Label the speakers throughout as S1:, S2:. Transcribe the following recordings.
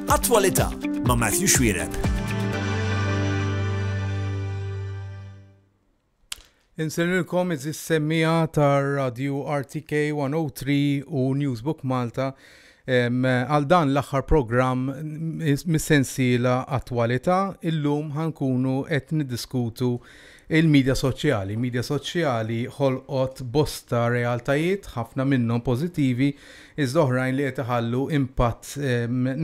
S1: Attwalità ma' Matthew Xwireb.
S2: Insenilkom iżis semmija tar Radio RTK 103 u Newsbook Malta għal dan l-aħħar programm mis-sensiela attwalità illum ħankunu qed niddiskutu Il-midja soċjali. Il-midja soċjali ħolqot bosta realtajiet, ħafna minnhom pożittivi, iżda oħrajn li qed iħallu impatt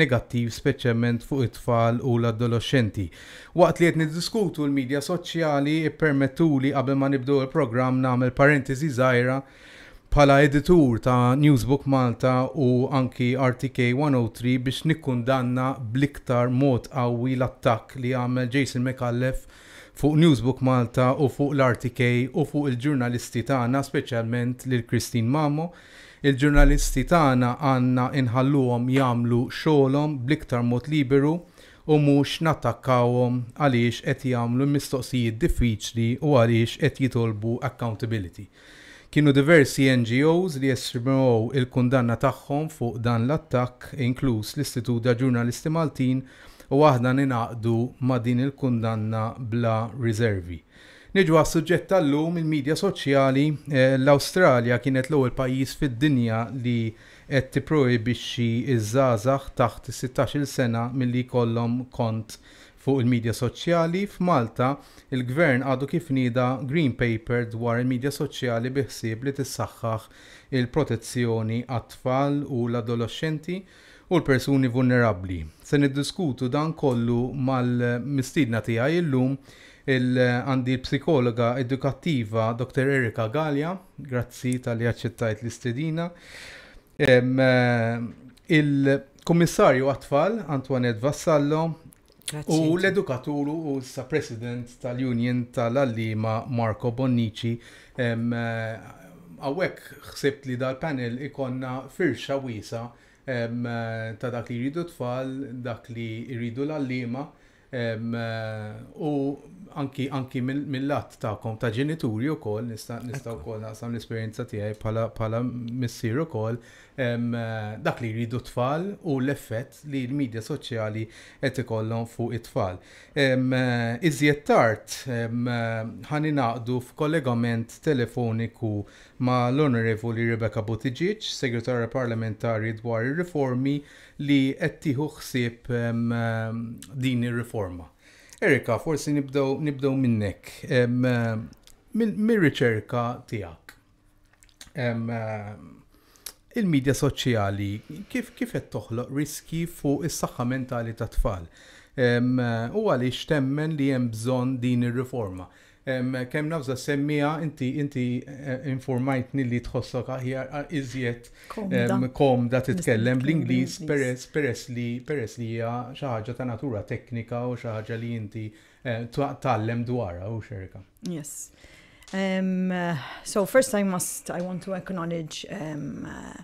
S2: negattiv speċjalment fuq it-tfal u l-adoloxxenti. Waqt li qed niddiskutu l-midja soċjali, ippermettuli qabel ma nibdew il-programm nagħmel parentesi żgħira bħala editur ta' Newsbook Malta u anki RTK 103 biex nikkundanna bl-iktar mod qawwi l-attakk li għamel Jason Micallef Fuq Newsbook Malta u fuq l-RTK u fuq il-ġurnalisti tagħna speċjalment lil Christine Mamo. Il-ġurnalisti tagħna għandna inħalluhom jagħmlu xogħolhom bl-iktar mod liberu u mhux nattakkawhom għaliex qed jagħmlu mistoqsijiet diffiċli u għaliex qed jitolbu accountability. Kienu diversi NGOs li esprimew il-kundanna tagħhom fuq dan l-attakk, inkluż l-Istitut da' Ġurnalisti Maltin u aħna ningħaqdu ma' din il-kundanna bla riservi. Niġu għas-suġġett tal-lum, il-midja soċjali, l-Awstralja kienet l-ewwel pajjiż fid-dinja li qed tipprojibixxi ż-żgħażagħ taħt is-sittax-il sena milli jkollhom kont Fuq il-midja soċjali, f'Malta, il-Gvern għadu kif nieda Green Paper dwar il-midja soċjali bi ħsieb li tissaħħaħ il-protezzjoni għat-tfal u l-adoloxxenti u l-persuni vulnerabbli. Se niddiskutu dan kollu mal-mistiedna tiegħi llum, il għandi l-psikologa edukattiva Dottor Erica Galea, grazzi talli aċċettajt l-istedina, il-Kummissarju għat-Tfal Antoinette Vassallo u l-edukatur u sa President tal-Union tal-Allima Marco Bonnici. Għawek xsebt li dal-panel ikonna firxa wisa ta' dak li jridu tfal, dak li jridu l-allima, U anki mill-lat tagħkom ta' ġenituri wkoll nista' nista' wkoll naqsam l-esperjenza tiegħi bħala missier ukoll dak li jridu tfal u l-effett li l-medja soċjali qed ikollhom fuq it-tfal. Iżjed tard ħa ningħaqdu f'kollegament telefoniku ma' l-Onorevoli Rebecca Buttigieg, Segretarja Parlamentari dwar ir-Riformi li qed tieħu ħsieb din ir-riforma. Erika, forsi nibdew minnek, mir-riċerka tiegħek. Il-medja soċjali kif kif qed toħloq riski fuq is-saħħa mentali tat-tfal? U għaliex temmen li hemm bżonn din ir-riforma? Kemm naf za semmiha, inti inti informajtni li tħossok aħjar iżjed komda titkellem bl-Ingliż peress peress li peress li hija xi ħaġa ta' natura teknika u xi ħaġa li inti tgħallem dwarha u xerka. Yes.
S3: Um, so first I must, I want to acknowledge um, uh,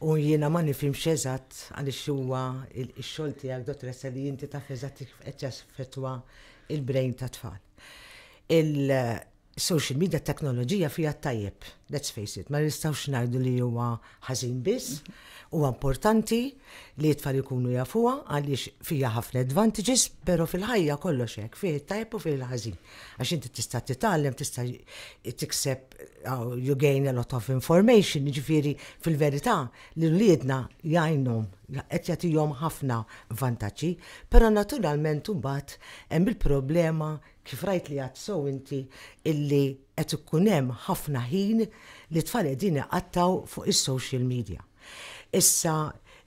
S4: U jiena ma nifhimx eżatt għaliex huwa x-xogħol tiegħek dottoressa li inti taf eżatt kif qed jaffettwa il-brain tat-tfal. Il-social media teknoloġija fiha t-tajjeb, let's face it, ma nistgħux ngħidu li huwa ħażin biss, huwa importanti li t-tfal ikunu jafuha għaliex fiha ħafna advantages, però fil-ħajja kollox hekk, fih it-tajjeb u fih il-ħażin. Għax inti tista' titgħallem, tista' tikseb you gain a lot of information, ġifiri fil-verità li l-liedna jgħinhom, qed jagħtihom ħafna vantaġġi, però naturalment imbagħad hemm il-problema kif rajt li għad sew inti illi qed ikun hemm ħafna ħin li tfal qegħdin iqattgħu fuq is-social media. Issa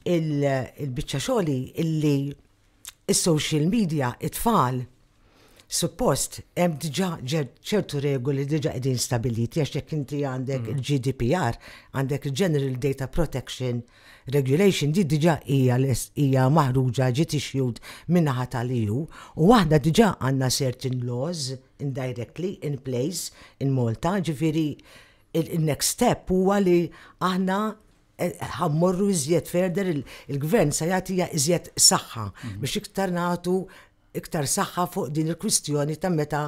S4: il-biċċa xogħli illi is-social media it-tfal suppost hemm diġà ċertu regoli diġà qegħdin stabiliti għax jekk inti għandek il-GDPR, għandek il-General Data Protection Regulation di diġà hija hija maħruġa ġiet issued min-naħa tal-EU u aħna diġà għandna certain laws indirectly in place in Malta, ġifieri il-next step huwa li aħna Ħa mmorru iżjed further, il-Gvern se jagħtiha iżjed saħħa biex iktar nagħtu iktar saħħa fuq din il-kwistjoni ta' meta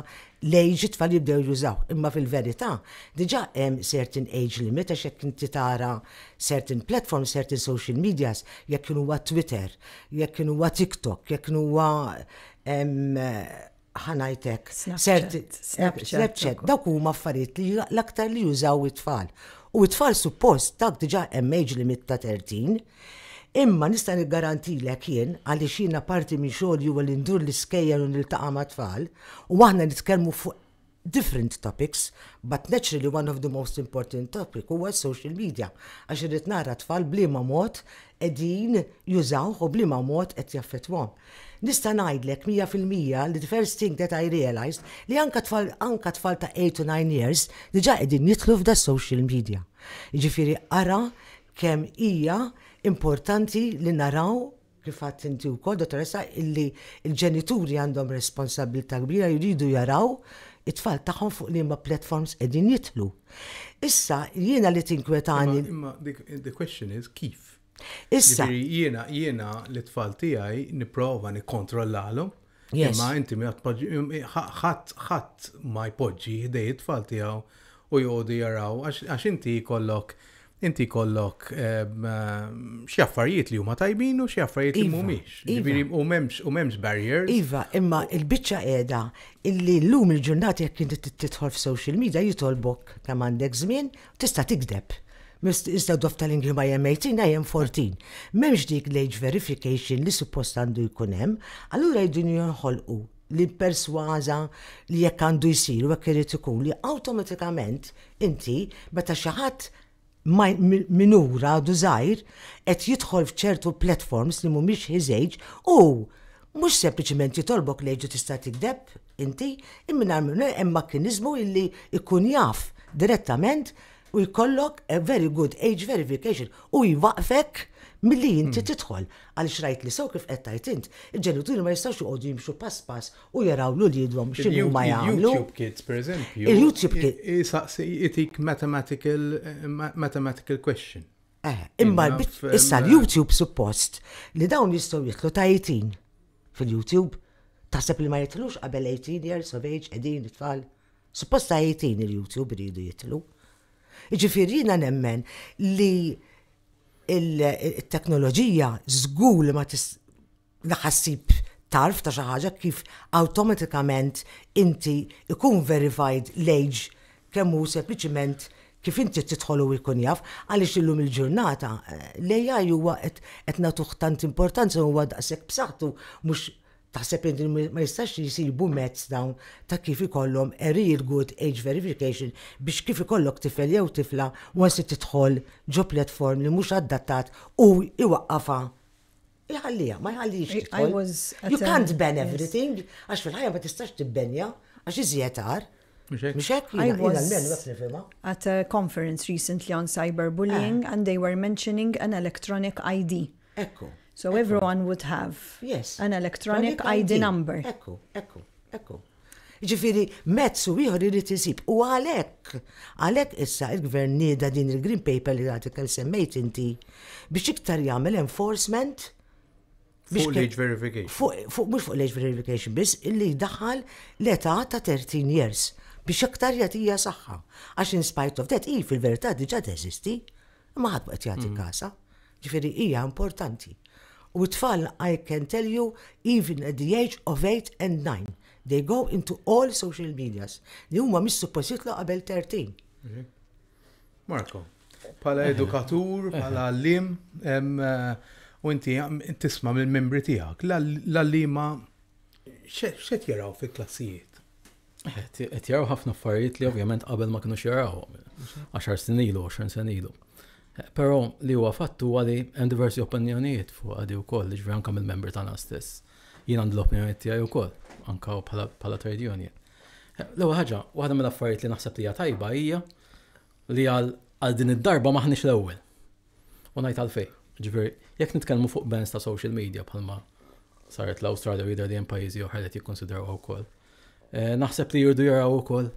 S4: l-age it-tfal jibdew jużaw. Imma fil-verità, diġà hemm certain age limit għax jekk inti tara certain platforms, certain social medias, jekk kien huwa Twitter, jekk kien huwa TikTok, jekk kien huwa ħanajtek, Snapchat, Snapchat, dawk huma affarijiet li l-aktar li jużaw it-tfal. U it-tfal suppost dak diġà hemm age limit ta' 30. Imma nista' niggarantilek jien għaliex jiena parti minn xogħol huwa li ndur l-iskejjel u niltaqa' ma' tfal u aħna nitkellmu fuq different topics but naturally one of the most important topic huwa social media għax irrid nara tfal b'liema mod qegħdin jużawh u b'liema mod qed jaffettwahom. Nista' ngħidlek mija fil-mija li the first thing that I realised li anke tfal anke tfal ta' eight u nine years diġà qegħdin jidħlu f'das-social media. Jiġifieri ara kemm hija importanti li naraw kif għidt inti wkoll, Dottoressa, illi l-ġenituri għandhom responsabbiltà kbira jridu jaraw it-tfal tagħhom fuq liema platforms qegħdin jidħlu. Issa jiena li tinkwetani. Imma the
S2: question is kif? Issa.
S4: Jiena jiena
S2: l-tfal tiegħi nipprova nikkontrollalhom. Yes. Imma inti mi għatpoġi, ħadd ħadd ma jpoġġi ħdej it-tfal tiegħu u joqogħdu jaraw għax inti kollok inti kollok ehm, xi affarijiet li huma tajbin u xi affarijiet li iva, mhumiex. Iva. Ġifieri u m'hemmx u m'hemmx barriers. Iva, imma
S4: il-biċċa qiegħda illi llum il-ġurnata jekk inti tidħol f'social media jitolbok kemm għandek żmien Tista' tikdeb. Iżda d-doff tal-Ingliż ma hemm 18 ha hemm 14. M'hemmx dik l-age verification li suppost għandu jkun hemm, allura jridu jinħolqu li persważa li hekk għandu jsir u hekk irid ikun li awtomatikament inti meta xi ħadd minur għadu żgħir qed jidħol f'ċertu platforms li mhumiex his age hu mhux sempliċement jitolbok l-age u tista' tikdeb. Inti, imminarmune hemm makkiniżmu illi jkun jaf direttament u jkollok a very good age verification u jwaqfek milli inti tidħol. Għaliex rajt li sew kif qed tgħid int, il-ġenituri ma jistgħux joqogħdu jimxu pass pass u jaraw lil uliedhom x'inhu ma jagħmlu. Il-YouTube Kids, pereżempju.
S2: Il-YouTube Kids.
S4: Isaqsi, itik
S2: mathematical, mathematical question. Eh, imma
S4: issa l-YouTube suppost li dawn jistgħu jitlu tajtin. fil-YouTube, taħseb li ma jidħlux qabel 18 years of age qegħdin it-tfal? Suppost ta' 18 il-YouTube iridu jidħlu. Jiġifieri jiena nemmen li il-teknoloġija żgur li ma ħassib tarf ta' xi ħaġa kif awtomatikament inti ikun verified l-age kemm hu sempliċement kif inti tidħol u jkun jaf, għaliex illum il-ġurnata l-AI huwa qed qed nagħtuh tant importanza u huwa daqshekk b'saħħtu mhux taħseb li ma jistax jsibu mezz dawn ta' kif ikollhom a real good age verification biex kif ikollok tifel jew tifla once tidħol ġo platform li mhux adattat hu jwaqqafha Iħallija, ma jħallix tidħol. You can't ban everything, għax fil-ħajja ma tistax tibbenja, għax iżjed għar. Mxek, I
S3: was at a conference recently on cyberbullying eh. and they were mentioning an electronic ID. Ekku. So
S4: everyone
S3: would have yes. an electronic ID number. Ekku, ekku, ekku.
S4: Jiġifieri mezz u ieħor irid isib u għalhekk, għalhekk issa il-Gvern nieda din il-Green Paper li għadek kemm semmejt inti biex iktar jagħmel enforcement Fuq
S2: l-age verification. Fuq mhux fuq l-age
S4: verification biss, illi jdaħħal l-età ta' 13 years biex aktar jagħtija saħħa. Għax in spite of that, hi fil-verità diġà teżisti, imma ħadd qed jagħti mm. kasa. Jiġifieri hija importanti. U t-tfal I can tell you even at the age of eight and nine they go into all social medias li huma mhix suppost jitlu qabel 13.
S2: Marco, bħala edukatur, bħala għallim, u inti tisma mill-membri tiegħek, l-għallima xed jaraw fil-klassijiet?
S5: Qed jaraw ħafna affarijiet li ovvjament qabel ma kienu xjarawhom. 10 snin ilu, 20 sena ilu. Però li huwa fatt huwa li hemm diversi opinjonijiet fuq għadi wkoll, ġifieri anke mill-membri tagħna stess. Jien għandi l-opinjonijiet tiegħi wkoll, anke bħala trade union. L-ewwel ħaġa, waħda mill-affarijiet li naħseb li hija tajba hija li għal din id-darba maħniex l-ewwel. U ngħid għalfejn. Ġifieri, jekk nitkellmu fuq bands ta' social media bħalma saret l-Awstralja u jidher li hemm pajjiżi oħra li jikkonsidraw wkoll. Eh, naħseb li jirdu jaraw ukoll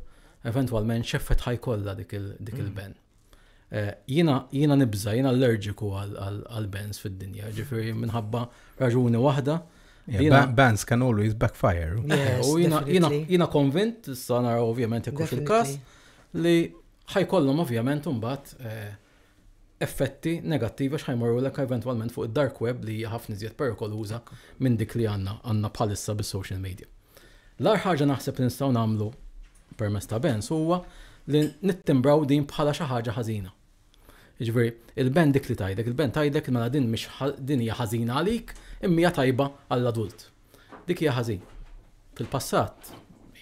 S5: eventwalment x'effett ħajkollha dik mm. il-ben. Eh, jina, jina nibza, jina allerġiku għal-bands fid-dinja, ġifiri minħabba raġuni wahda. Yeah, bands
S2: can always backfire. Yes, u jina, jina,
S5: jina konvint, s-sanar ovvjament jekku fil-kas, li ħajkollhom ovvjament un-bat eh, effetti negattivi għax ħa jmorrulek eventwalment fuq id-dark web li hija ħafna iżjed perikoluża minn dik li għandna għandna bħalissa bis-social media. L-agħar ħaġa naħseb li nistgħu nagħmlu permezz ta' Benz huwa li nittimbraw din bħala xi ħaġa ħażina. Jiġifieri, il-band dik li tgħidlek, il-band tgħidlek mela din mhix din hija ħażina għalik imma hija tajba għall-adult. Dik hija ħażin. Fil-passat,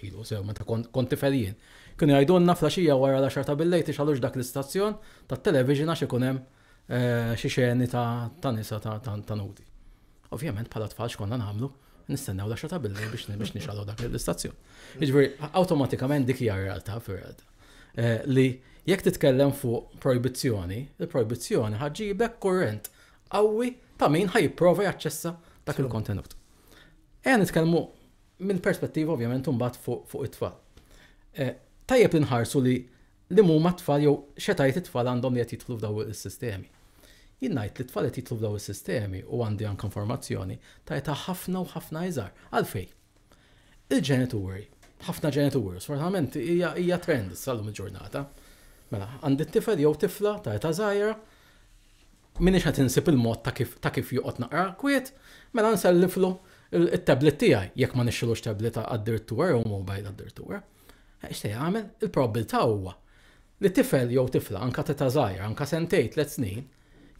S5: ilu sew meta kont tifel jien, kienu jgħidulna flaxija wara l-għaxar ta' billejl tixgħalux dak l-istazzjon tat-television għax ikun hemm eh, xi xeni ta' nisa ta' nudi. Ovvjament bħala tfal x'konna nagħmlu, nistennew l-għaxar ta' billejl biex biex nixgħalu dak l-istazzjon. Jiġifieri awtomatikament dik hija realtà fir-realtà. Eh, li jekk titkellem fuq projbizzjoni, il-projbizzjoni ħaġġibek kurrent qawwi ta' min ħa jipprova jaċċessa dak il-kontenut. Ejja nitkellmu minn perspettiva ovvjament imbagħad fuq it-tfal. Tajjeb li nħarsu li li huma t-tfal jew x'etajiet it-tfal għandhom li qed jidħlu f'daw is-sistemi. Jien ngħid li t-tfal qed jidħlu f'daw is-sistemi u għandi anke informazzjoni ta' età ħafna u ħafna iżgħar. Għalfejn? Il-ġenituri, ħafna ġenituri, sfortunatament hija trend sal-lum il-ġurnata. Mela, għandi t-tifel jew tifla ta' età żgħira, M'iniex qed insib il-mod ta' kif ta' kif joqgħod naqra kwiet, mela nselliflu t-tablet tiegħi, jekk ma nixtrilux tablet addirittura jew mobile addirittura. X'se jagħmel? Il-probbiltà huwa li tifel jew tifla anke t'età żgħira, anke sentejn, tliet snin,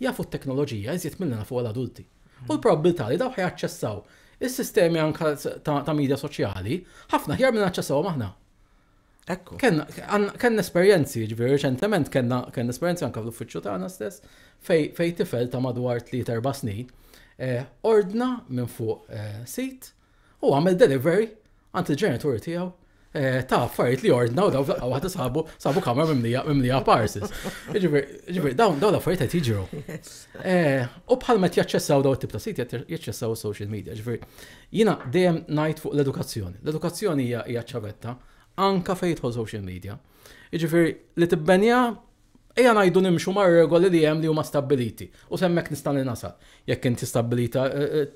S5: jafu t-teknoloġija iżjed milli nafuha l-adulti. U l-probbiltà li dawk ħajaċċessaw is-sistemi anke ta' ta' midja soċjali ħafna aħjar milli naċċessawhom aħna.
S4: Ekku. Kenna
S5: esperjenzi, ġviri, reċentement kenna esperjenzi anka fl-uffiċċju tagħna stess, fej tifel ta' madwar 3-4 snin, eh, ordna minn fuq eh, sit u għamel delivery għand il-ġenituri tiegħu eh, ta' affarijiet li ordna u daw fl waħda sabu sabu kamra mimlija parses. Ġifieri dawn dawn l-affarijiet qed jiġru. U bħal ma jaċċessaw daw it-tip ta' sit jaċċessaw social media, ġifieri Jiena dejjem ngħid fuq l-edukazzjoni. L-edukazzjoni hija hija ċ-ċavetta anke fejn jidħol social media. Jiġifieri li tibbenja ejja ngħidu nimxu mar-regoli li hemm li huma stabbiliti u s'hemmhekk nista' li nasal. Jekk inti stabbilita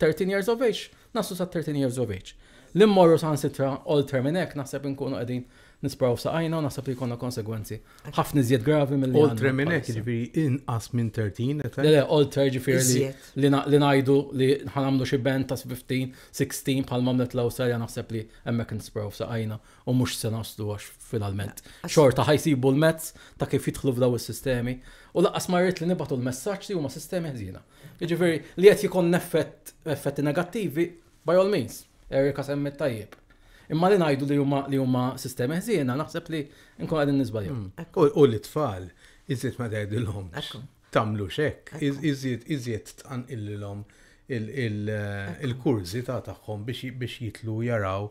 S5: 13 years of age, naslu sa 13 years of age. Li mmorru saħansitra oltre minn hekk naħseb inkunu qegħdin nispraw f'saqajna u naħseb li jkollna konsegwenzi ħafna iżjed gravi mill Oltre minn hekk ġifieri
S2: inqas minn 13 qed. Le le, oltre
S5: ġifieri li ngħidu li ħanamlu xi band ta' 15, 16 bħal mamlet l-Awstralja naħseb li hemmhekk nispraw f'saqajna u mhux se naslu għax finalment. Xorta ħajsibu l-mezz ta' kif jidħlu f'daw is-sistemi u laqqas ma rrid li nibgħatu l-messaġġ li huma sistemi ħżiena. Jiġifieri li qed jikon effett effetti negattivi By all means, Erika semmiet tajjeb. Imma li ngħidu li huma li huma sistemi ħżiena naħseb li nkunu qegħdin niżbaljaw. U lit-tfal
S2: iżjed ma tgħidilhomx tagħmlux hekk, iżjed iżjed tqanqillilhom il-kurżità tagħhom biex jidħlu jaraw.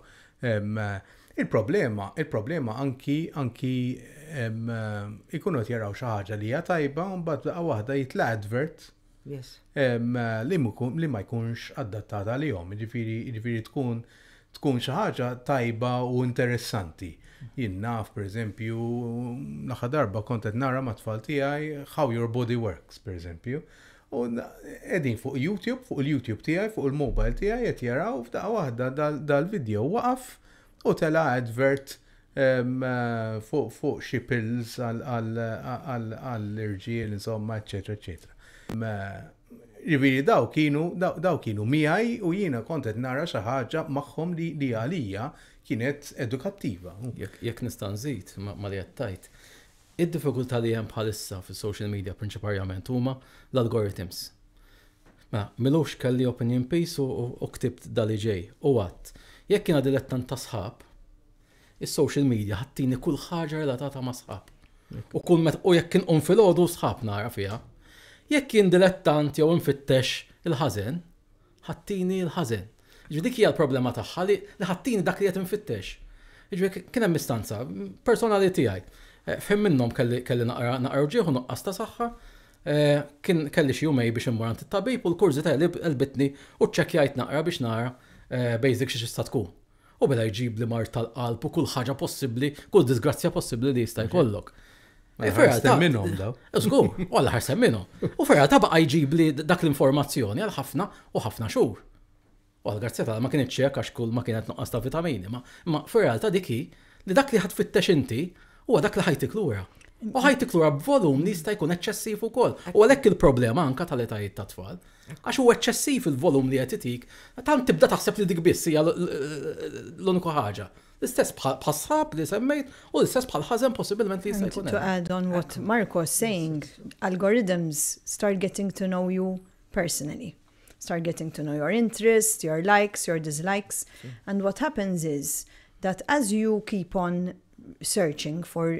S2: Il-problema, il-problema anki anki ikunu qed jaraw xi ħaġa li hija tajba u mbagħad daqqa waħda jitla' advert Yes. Em, li, mkun, li ma jkunx adattat għalihom, ġifiri, ġifiri tkun tkun xi ħaġa tajba u interessanti. Jien naf, per eżempju, l-aħħar darba kont qed nara ma' tfal tiegħi How Your Body Works, per eżempju. U qegħdin fuq YouTube, fuq il-YouTube tiegħi, fuq il-mobile tiegħi qed jaraw f'daqqa waħda dal-video waqaf u tela' advert fuq xi pills għall-irġiel insomma eċċetera eċċetera. Jiġifieri dawk kienu dawk kienu miegħi u jiena kont qed nara xi ħaġa magħhom li għalija kienet edukattiva. Jekk nista'
S5: nżid ma' li qed tgħid, id-diffikultà li hemm bħalissa fis-social media prinċiparjament huma l-algorithms. Mela, Milux kelli opinion piece u u ktibt da li ġej. U għadt, Jekk jiena dilettant ta' sħab, is-social media ħa ttini kull ħaġa relatata ma' sħab. U kull meta u jekk inqum filgħodu sħab nara fiha. Jekk jien dilettant jew infittex il-ħażen, ħa ttini l-ħażen. Jiġifieri dik hija l-problema tagħha li ħattini dak li qed infittex. Jiġifieri kien hemm istanza personali tiegħi. F'ħin minnhom kelli naqra wġigħ u nuqqas ta' saħħa. Kien kelli xi jumej biex immur għand it-tabib u l-kurżità għelbitni u ċċekkjajt naqra biex nara basic xi tista' tkun. U mela jġibli mard tal-qalb u kull ħaġa possibbli, kull disgrazzja possibbli li jista' jkollok. Mela Ferra ta'
S2: minnhom daw. Żgur, u għal ħarsem
S5: minnhom. U Ferra ta' baqa' jġibli dak l-informazzjoni għal ħafna u ħafna xhur. U għal grazzja ta' ma kienx ċek għax kull ma kienet nuqqas ta' vitamini, ma ma Ferra ta' dik hi li dak li ħadd fittex inti huwa dak li ħajtik lura. U ħajtik lura b'volum li jista' jkun eċċessiv ukoll. U għalhekk il-problema anka tal-etajiet tat-tfal. Għax hu eċċessiv il-volum li qed itik, tant tibda taħseb li dik biss hija l-uniku ħaġa. L-istess bħas-sħab li semmejt u l-istess bħall-ħażen possibilment li jista' jkun. To add on what
S3: Marco is saying, algorithms start getting to know you personally. Start getting to know your interests, your likes, your dislikes. And what happens is that as you keep on searching for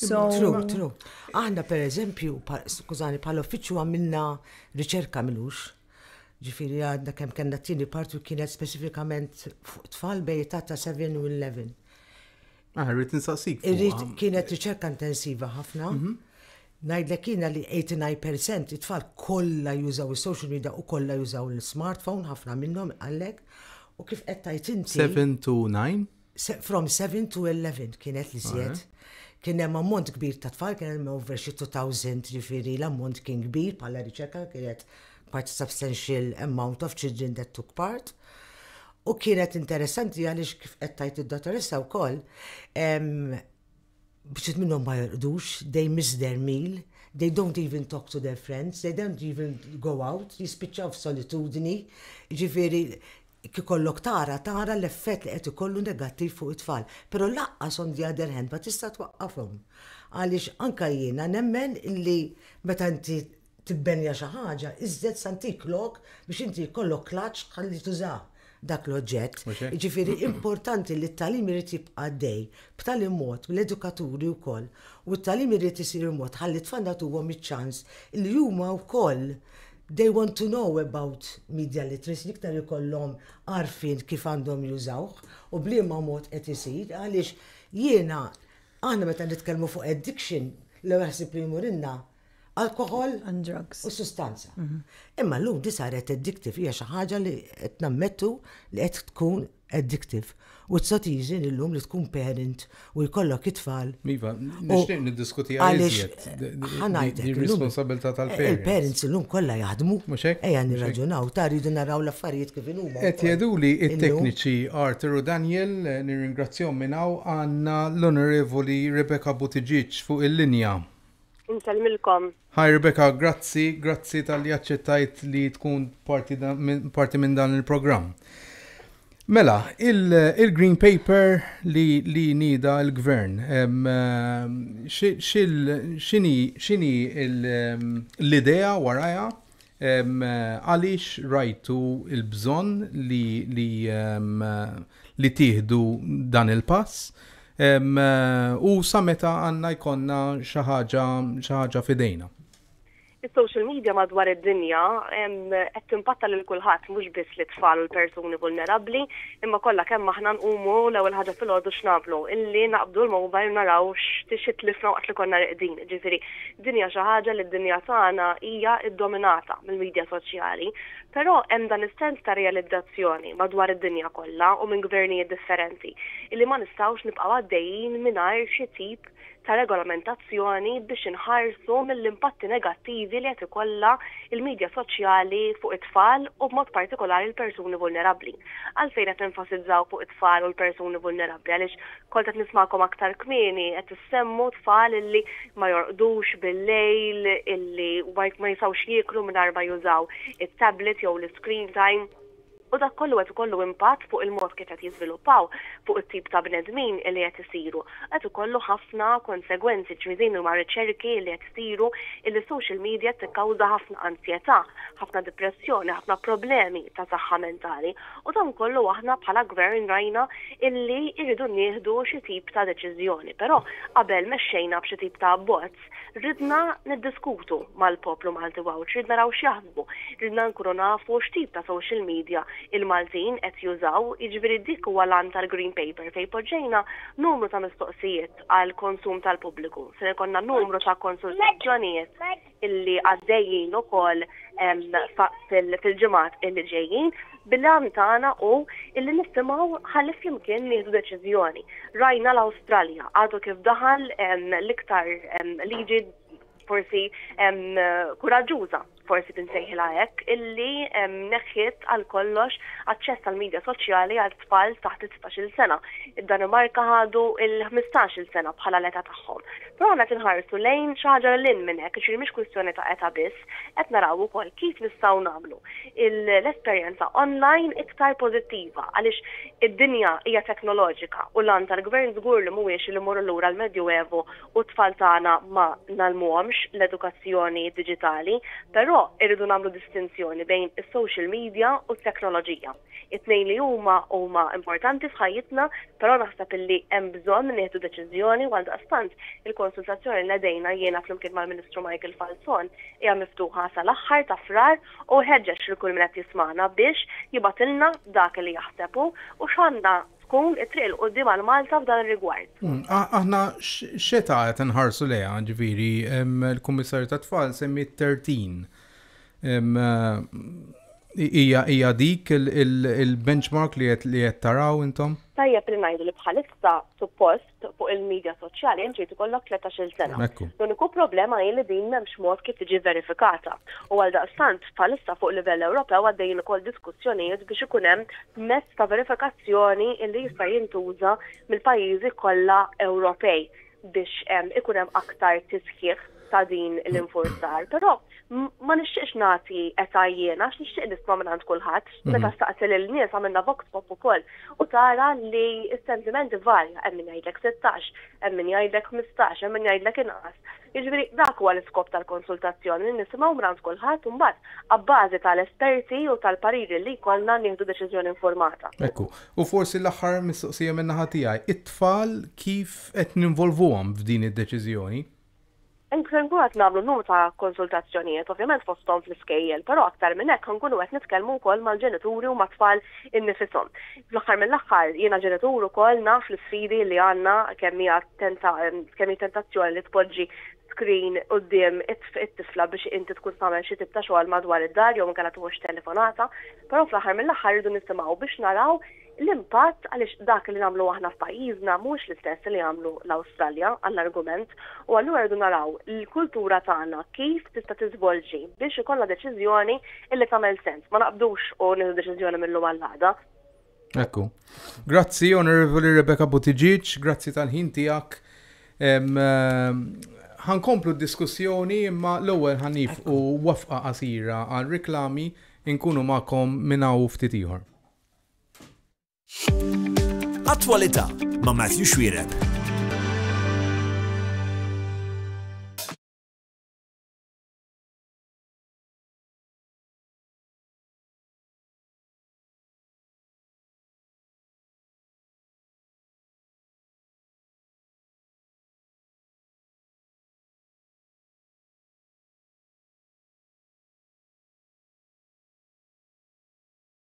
S3: So, true, true.
S4: Aħna per eżempju, skużani, pal uffiċċju għamilna riċerka minux. Ġifiri għadna kem kena t-tini partu kienet specifikament fuq tfal bej ta' 7 u 11. Ah,
S2: rrit nsaqsik. Irrit kienet riċerka
S4: intensiva ħafna. Mhm. Najdlek kiena li 89% it-tfal kolla jużaw il-social media u kolla jużaw il-smartphone, ħafna minnom għallek. U kif qed tajt inti? 7 to 9?
S2: From 7
S4: to 11 kienet li żjed. Kien hemm ammont kbir ta' tfal, kien hemm over xi 2000 ġifieri l-ammont kien kbir bħala riċerka kienet quite substantial amount of children that took part. U kienet interessanti għaliex kif qed tajt id-dottoressa wkoll, bċit minnhom ma jorqdux, they miss their meal, they don't even talk to their friends, they don't even go out, jispiċċaw f'solitudni, ġifieri Jekk ikollok tara, tara l-effett li qed ikollu negattiv fuq it-tfal, però lanqas on the other hand ma tista' twaqqafhom. Għaliex anke jiena nemmen li meta inti tibbenja xi ħaġa, iżżed sa ntik lok biex inti jkollok klaċċ ħalli tużah dak l-oġġett. Jiġifieri importanti li t-tagħlim irid jibqa' għaddej b'tali mod, l-edukaturi wkoll, u t-tagħlim irid isir b'mod ħalli t-tfal nagħtuhom iċ-ċans li huma wkoll They want to know about media literacy, l-iktar ikollhom għarfien kif għandhom jużawh u b'liema mod qed isir għaliex jiena aħna meta nitkellmu fuq addiction l-ewwel ħsieb li jmurilna alkoħol and drugs u
S3: sustanza.
S4: Imma llum di saret addictive hija xi ħaġa li qed nammettu li qed tkun addictive u tista' tiżen illum li tkun parent u jkollok it-tfal. Iva, nixtieq
S2: niddiskutiha iżjed. Ħanajtek. Ir-responsabilità tal-parents. Il-parents illum kollha
S4: jaħdmu. Mhux hekk? Ejja nirraġunaw, ta' rridu naraw l-affarijiet kif inhuma. Qed jgħiduli
S2: t-tekniċi Arthur u Daniel, nirringrazzjahom minn hawn, għandna l-Onorevoli Rebecca Buttigieg fuq il-linja. Insellmilkom.
S6: Hi Rebecca,
S2: grazzi, grazzi talli aċċettajt li tkun parti da, min, parti minn dan il-programm. Mela, il-Green Paper li, li nida l-gvern, xini l-idea waraja Għaliex rajtu l-bżonn li tieħdu dan il-pass? U sa meta għandna jkollna xi ħaġa f'idejna? Is-social
S6: media madwar id-dinja qed timpatta lil kulħadd mhux biss lit-tfal u l-persuni vulnerabbli, imma kollha kemm aħna nqumu l-ewwel ħaġa filgħodu x'nagħmlu? Illi naqbdu l-mobile naraw xi tlifna waqt li konna riqdin, jiġifieri Din hija xi ħaġa li d-dinja tagħna hija ddominata mill-midja soċjali, però hemm dan is-sens ta' realizzazzjoni madwar id-dinja kollha u minn gvernijiet differenti illi ma nistgħux nibqgħu għaddejjin mingħajr xi tip ta' regolamentazzjoni biex inħarsu mill-impatti negattivi li qed ikollha l-midja soċjali fuq it-tfal u b'mod partikolari l-persuni vulnerabbli. Għalfejn qed nenfasizzaw fuq it-tfal u l-persuni vulnerabbli għaliex Kont qed nismagħkom aktar kmieni qed issemmu tfal illi ma jorqdux bil-lejl, illi ma jistgħux jieklu mingħajr ma jużaw it-tablet jew l-iscreen time, u dak kollu qed ikollu impatt fuq il-mod kif qed jiżviluppaw, fuq it-tip ta' bnedmin illi qed isiru. Qed ikollu ħafna konsegwenzi, ġifieri din huma riċerki illi qed isiru illi s-social media qed tikkawża ħafna anzjetà, ħafna dipressjoni, ħafna problemi ta' saħħa mentali. U dan kollu aħna bħala Gvern rajna illi rridu nieħdu xi tip ta' deċiżjoni. Però qabel mexxejna b'xi tip ta' abbozz, ridna niddiskutu mal-poplu Malti Għawdxi, rid naraw x'jaħsbu, ridna nkunu nafu x'tip ta' social media il-Maltin qed jużaw, jiġifieri dik huwa l-għan tal-Green Paper fejn poġġejna numru ta' mistoqsijiet għall-konsum tal-pubbliku. Ser ikollna numru ta' konsultazzjonijiet. illi għaddejjin ukoll fil-ġimgħat illi ġejjin, bil-għan tagħna hu illi nisimgħu ħalli flimkien nieħdu deċiżjoni. Rajna l-Awstralja, għadu kif daħal l-iktar liġi forsi kuraġġuża forsi tinsejħilha hekk, illi neħħiet għal kollox aċċess għal media soċjali għal tfal taħt 16-il sena. Id-Danimarka ħadu il-15-il sena bħala l-età tagħhom. Però aħna qed inħarsu lejn xi ħaġa lil hinn minn hekk, jiġifieri mhix kwistjoni ta' età biss, qed naraw ukoll kif nistgħu nagħmlu l-esperjenza online iktar pożittiva għaliex id-dinja hija teknoloġika u l-għan tal-Gvern żgur li mhuwiex li immorru lura l-Medjuevu u t-tfal tagħna ma ngħallmuhomx l-edukazzjoni diġitali, però rridu nagħmlu distinzjoni bejn is-social media u t-teknoloġija. It-tnejn li huma huma importanti f'ħajjitna, però naħseb illi hemm bżonn nieħdu deċiżjoni u għaldaqstant il-konsultazzjoni li nedejna jiena flimkien mal-Ministru Michael Falzon hija miftuħa sal-aħħar ta' Frar u nħeġġeġ lil kull min qed jismagħna biex jibgħatilna dak li jaħseb hu u x'għandha tkun it-triq 'il quddiem għal Malta f'dan ir-rigward. Aħna
S2: x'età qed inħarsu lejha? Ġifieri l-Kummissarju tat-Tfal semmiet 30 Hija dik il-benchmark li qed taraw intom? Tajjeb li ngħidu li
S6: bħalissa suppost fuq il-midja soċjali int trid ikollok tletax-il sena. L-uniku problema hi li din m'hemmx mod kif tiġi verifikata u għaldaqstant bħalissa fuq livell Ewropew għaddejjin ukoll diskussjonijiet biex ikun hemm mezz ta' verifikazzjoni li jista' jintuża mill-pajjiżi kollha Ewropej. biex ikun hemm aktar tisħiħ ta' din l-infurzar, però ma nixtieqx nagħti età jiena għax nixtieq nisma' minn għand kulħadd. Mhm. Meta staqsi lil nies għamilna vox pop ukoll u tara li s-sentimenti varja hemm min jgħidlek 16, hemm min jgħidlek 15, hemm min jgħidlek inqas. Jiġifieri dak huwa l-iskop tal-konsultazzjoni li nisimgħu minn għand kulħadd u mbagħad abbażi tal-esperti u tal-pariri li jkollna nieħdu deċiżjoni informata. Ekku, u forsi
S2: l-aħħar mistoqsija minn naħa tiegħi, it-tfal kif kif qed ninvolvuhom f'din id-deċiżjoni? Inkunu
S6: qed nagħmlu numru ta' konsultazzjonijiet, ovvjament fosthom fl-iskejjel, però aktar minn hekk inkunu qed nitkellmu wkoll mal-ġenituri u mat-tfal innifishom. Fl-aħħar mill-aħħar, jiena ġenitur ukoll naf l-isfidi li għandna kemm hi kemm hi tentazzjoni li tpoġġi screen quddiem it-tifla biex inti tkun tagħmel xi tip ta' xogħol madwar id-dar jew inkella tħoss telefonata, però fl-aħħar mill-aħħar irridu nisimgħu biex naraw l-impatt għaliex dak li nagħmlu aħna f'pajjiżna mhuwiex l-istess li jagħmlu l-Awstralja għall-argument u allura rridu naraw l-kultura tagħna kif tista' tiżvolġi biex ikollna deċiżjoni li tagħmel sens. Ma naqbdux u nieħdu deċiżjoni mill-lum għall-għada. Ekku.
S2: Grazzi, Onorevoli Rebecca Buttigieg, grazzi tal-ħin tiegħek. Ħankomplu d-diskussjoni imma l-ewwel ħanif u wafqa qasira għal reklami inkunu magħkom minn hawn ftit ieħor.
S1: Attwalità ma' Matthew Xwireb.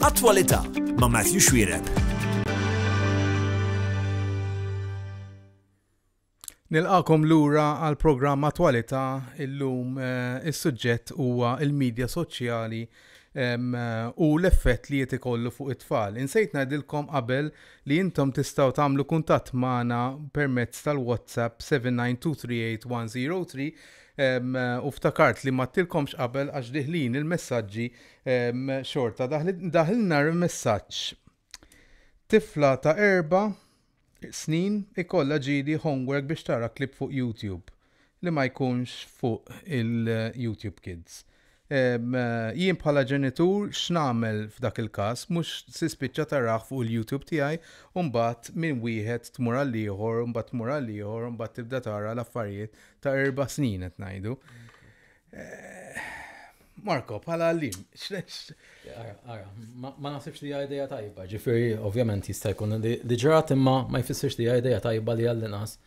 S1: Attwalità ma' Matthew Xwireb.
S2: Nilqagħkom lura għall-programm Attwalità, illum is-suġġett huwa l-midja soċjali u l-effett li qed ikollu fuq it-tfal. Insejt ngħidilkom qabel li intom tistgħu tagħmlu kuntatt magħna permezz tal-WhatsApp 792381003 u ftakart li m'għadtilkomx qabel għax diħlin il-messaġġi xorta. Daħlilna messaġġ. Tifla ta' erba' snin ikollha ġieli homework biex tara clip fuq YouTube li ma jkunx fuq il-YouTube Kids. Ehm, jien bħala ġenitur x'nagħmel f'dak il-każ? Mhux tispiċċa tarah fuq il-YouTube tiegħi u mbagħad minn wieħed tmur għall-ieħor, mbagħad tmur għall-ieħor, mbagħad tibda tara l-affarijiet ta' erba' snin qed ngħidu. Marko, bħala għallim, Ara,
S5: ma nasibx li għajdeja tajba, ġifiri, ovvjament jista' jkun li ġrat imma ma jfissirx li għajdeja tajba li għall-inqas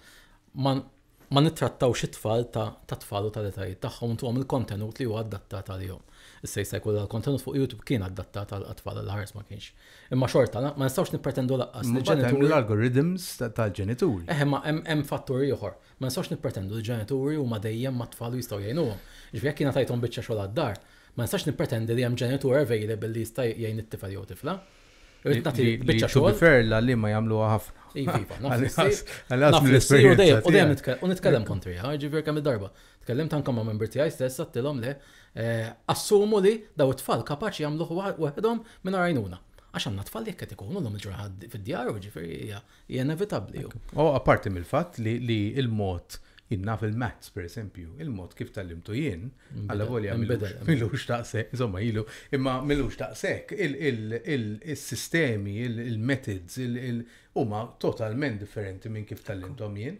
S5: ma nittrattaw xi tfal ta' tfal u tal-etajiet tagħhom tuhom il-kontenut li huwa adattat għalihom. Issa jista' jkun l-kontenut fuq YouTube kien adattat għal tfal għal ħares ma kienx. Imma xorta, ma nistgħux nippretendu laqqas li ġenitur. L-algorithms
S2: tal-ġenitur. Eħe, ma hemm
S5: fattur ieħor. Ma nistgħux nippretendu li ġenituri huma dejjem mat-tfal u jistgħu jgħinuhom. Jiġifieri jekk jiena tajthom biċċa xogħol għad-dar, ma nistax nippretendi li hemm ġenitur available li jista' jgħin it-tifel jew it-tifla. Irrid nagħti
S2: biċċa xogħol. Li, to be fair, l-għalliema jagħmluha ħafna. Iva, iva, naf li ssir. Naf li
S5: ssir u dejjem, u dejjem u nitkellem kontriha, jiġifieri kemm il-darba. Tkellimt anke ma' membri tiegħi stess għedtilhom le, eh, assumu li daw it-tfal kapaċi jagħmluh waħedhom mingħajr għajnuna. Għax għandna tfal li hekk qed ikunu llum il-ġurnata fid-djar u jiġifieri hija Hija inevitabbli. U apparti
S2: mill-fatt li l-mod, jien naf il-maths pereżempju, il-mod kif tgħallimtu jien, allavolja m'ilux daqshekk, insomma ilu, imma m'ilux daqshekk, is-sistemi, il-methods, huma totalment differenti minn kif tgħallimthom jien.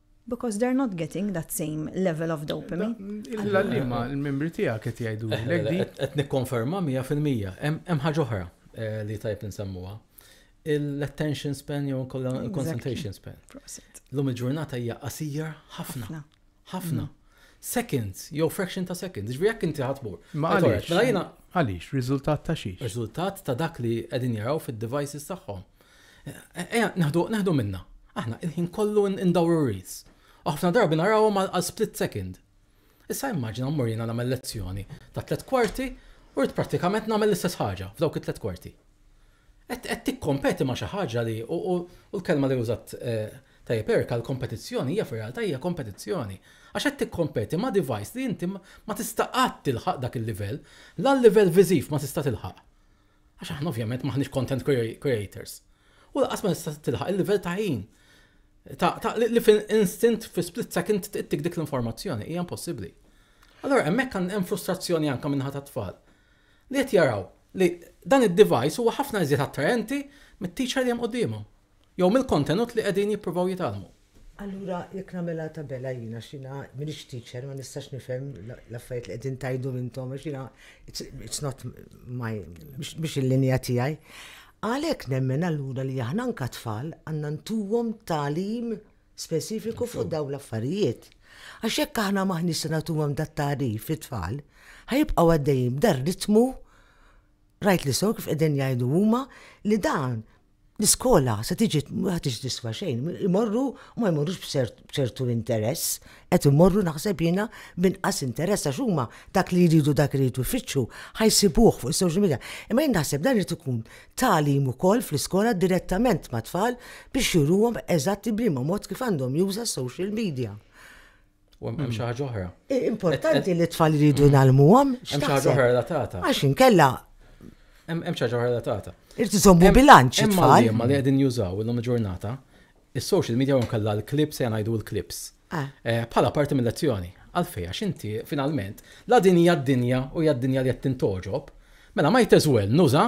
S3: Because they're not getting that same level of dopamine. Illa li ma
S2: l-membri tija qed jgħidu l di. Qed nikkonferma
S5: 100%. Hemm ħaġa oħra eh, li tajb nsemmuha. L-attention span jew kollha concentration span. Lum il-ġurnata hija qasija ħafna. Ħafna. Mm. Seconds, jew fraction ta' seconds. Ġvi jekk inti ħatmur. Ma għaliex. Mela
S2: għaliex, riżultat ta' xiex. Riżultat ta' dak li
S5: qegħdin jaraw fid-devices tagħhom. Ejja neħdu minnha, aħna il-ħin kollu ndawru r-ris, u ħafna drabi narawhom għal split second. Issa immaġina mmur jiena nagħmel lezzjoni ta' tliet kwarti u rrid prattikament nagħmel l-istess ħaġa f'dawk it-tliet kwarti. Qed tikkompeti ma' xi ħaġa li, u l-kelma li użat tajjeb Eric għal kompetizzjoni, hija fir-realtà hija kompetizzjoni, għax qed tikkompeti ma' device li inti ma tista' qatt tilħaq dak il-livell, la l-livell viżiv ma tista' tilħaq. Għax aħna ovvjament maħniex content creators. U laqas ma tista' tilħaq il-livell ta' ħin. Ta' li fin instant fi split second tittik dik l-informazzjoni, hija impossibbli. Allora hemmhekk hemm frustrazzjoni anke minħa tat-tfal. Li qed jaraw li dan id-device huwa ħafna iżjed attraenti mit-teacher li hemm qudiemhom. Jew mill-kontenut li qegħdin jippruvaw jitgħallmu. Allura jekk nagħmilha
S4: tabella jien għax jiena m'iniex teacher ma nistax nifhem l-affarijiet li qegħdin tgħidhom intom għax jiena it's not my mhux il-linja tiegħi. Għalhekk nemmen allura li aħna anke tfal għandna ntuhom tagħlim speċifiku fuq dawn l-affarijiet. Għax jekk aħna maħniex se nagħtuhom dat tagħrif fit-tfal, ħajibqgħu għaddejjin b'dar ritmu rajt li sew kif qegħdin jgħidu huma li dan l-iskola se tiġi ma tiġi tiswa xejn, imorru u ma jmorrux b'ċertu interess, qed imorru naħseb jiena b'inqas interess għax huma dak li jridu dak li jridu jfittxu ħajsibuh fuq is-social media. Imma jien naħseb dan irid ikun tagħlim ukoll fl-iskola direttament mat-tfal biex juruhom eżatt bliema mod kif għandhom juża s-social media. U hemm
S5: mm. xi ħaġa oħra. Importanti li t-tfal
S4: jridu nagħlmuhom. Mm. Hemm xi ħaġa oħra
S5: relatata. Għax inkella.
S4: Hemm
S5: xi ħaġa oħra relatata. Irti żommu bilanċ
S4: it-tfal. Imma li qegħdin jużaw
S5: illum il-ġurnata, is-social media u nkella l-klips se ngħidu l-klips. Ah. Eh, bħala parti mill-lezzjoni. Għalfej, għax inti finalment, la din hija d-dinja u hija d-dinja li qed tintoġob, mela ma jteżwel nuża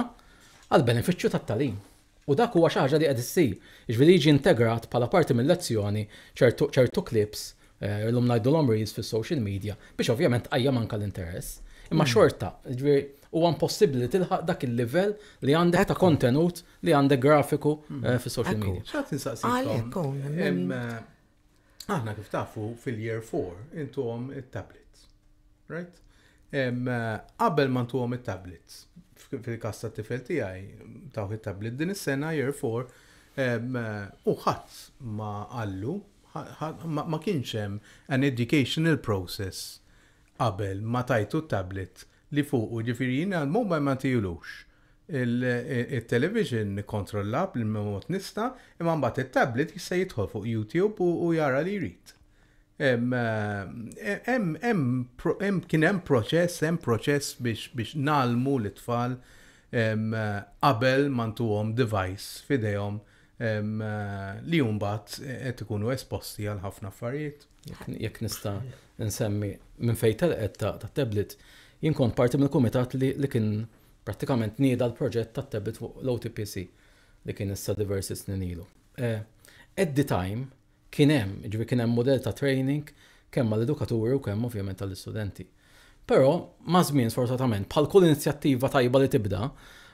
S5: għal benefiċċju tat-talim. U dak huwa xi ħaġa li qed issir, jiġifieri jiġi integrat bħala parti mil-lezzjoni ċertu ċertu clips, illum ngħidulhom reels fis-social media, biex ovvjament tqajjem anke l-interess. Imma xorta, jiġifieri huwa impossibbli li tilħaq dak il-livell li għandek ta' kontenut li għandek grafiku fis-social media. Xtaqt insaqsikom,
S2: Aħna kif tafu fil-year 4 intuhom it-tablets. Right? Qabel ma ntuhom it-tablets, fil-kas ta' tifel tiegħi tawh it-tablet din is-sena year 4 u ħadd ma qallu ma kienx hemm an educational process qabel ma tajtu t-tablet li fuqu, ġifieri jien għall-mobile ma ntihilux. It-television nikkontrollha bl-imma mod nista', imma mbagħad it-tablet jista' jidħol fuq YouTube u jara li jrid. Hemm kien hemm proċess, hemm proċess biex ngħallmu lit-tfal qabel ma ntuhom device f'idejhom li mbagħad qed ikunu esposti għal ħafna affarijiet. Jekk nista'
S5: nsemmi minn fejn telqet ta' tablet, jien kont parti mill-kumitat li kien prattikament nieda l-proġett ta' tablet fuq l-OTPC li kien issa diversi snin ilu. Eh, at the time kien hemm, ġifieri kien hemm mudell ta' training kemm għall-edukaturi u kemm ovvjament għall-istudenti. Però, maż-żmien sfortunatament, bħal kull inizjattiva tajba li tibda,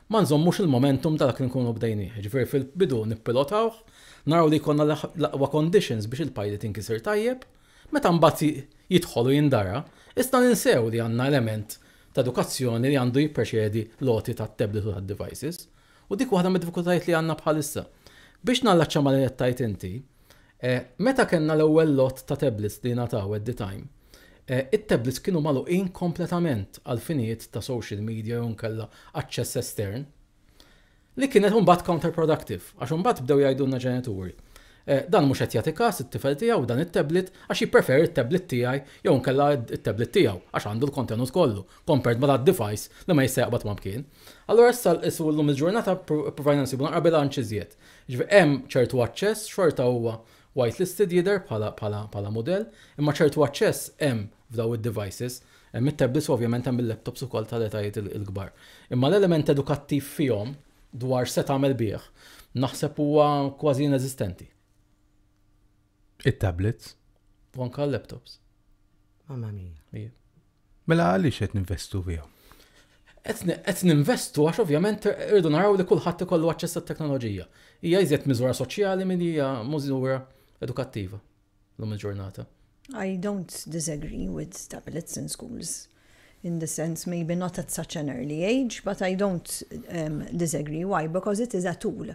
S5: ma nżommux il-momentum ta' dak li nkunu bdejnieh. Jiġifieri fil-bidu nippilotawh, naraw li jkollna l-aqwa conditions biex il-pilot inkisir tajjeb, meta mbagħad jidħol u jindara, iżda ninsew li għandna element ta' edukazzjoni li għandu jippreċedi l-għoti tat-tablet u tad-devices. U dik waħda mid-diffikultajiet li għandna bħalissa. Biex nallaċċa ma' li qed tgħid inti, Meta kellna l-ewwel lott ta' tablets li ngħataw at the time, it-tablets kienu magħluqin kompletament għal finijiet ta' social media jew inkella aċċess estern, li kienet imbagħad counterproductive għax imbagħad bdew jgħidulna ġenituri, dan mhux qed jagħti kas it-tifel tiegħu dan it-tablet għax jippreferi t-tablet tiegħi jew inkella t-tablet tiegħu għax għandu l-kontenut kollu compared ma' that device li ma jista' jaqbad ma' mkien. Allura issa llum il-ġurnata ippruvajna nsibu naqra bilanċ iżjed. Jiġifieri hemm ċertu aċċess, xorta huwa white listed jidher bħala bħala bħala mudell, imma ċertu aċċess hemm f'dawn id-devices. Hemm it-tablets u ovvjament hemm il-laptops ukoll tal-etajiet il-kbar. Imma l-element edukattiv fihom dwar x'se tagħmel bih naħseb huwa kważi ineżistenti.
S2: It-tablets? U anke
S5: l-laptops. Mamma
S4: mia. Ija. Mela għaliex
S2: qed ninvestu fiha?
S5: Qed ninvestu għax ovvjament irridu naraw li kulħadd ikollu aċċess għat-teknoloġija. Hija iżjed miżura soċjali milli hija miżura edukattiva llum il-ġurnata.
S3: I don't disagree with tablets in schools in the sense maybe not at such an early age, but I don't um, disagree. Why? Because it is a tool.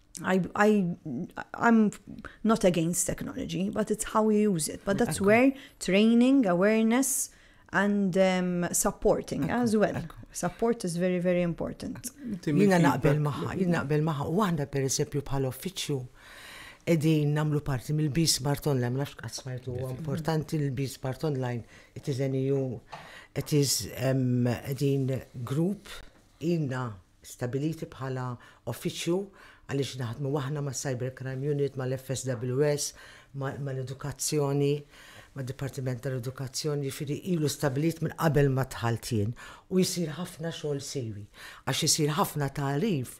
S3: I, I, I'm not against technology, but it's how you use it. But that's where training, awareness, and um, supporting as well. Support is very, very important. Jina naqbel
S4: maħħa, jina naqbel maħħa. U għanda per esempio bħal uffiċju edin namlu parti mill-B Smart Online, nafx għasmajtu, importanti l-B Smart Online, it is an EU, it is um, edin group, inna stabiliti bħala uffiċċju għaliex naħdmu aħna mas-Cybercrime Unit, mal-FSWS, mal-Edukazzjoni, mad-Dipartiment tal-Edukazzjoni, jiġifieri ilu stabbilit minn qabel ma dħalt jien u jsir ħafna xogħol siwi għax isir ħafna tagħrif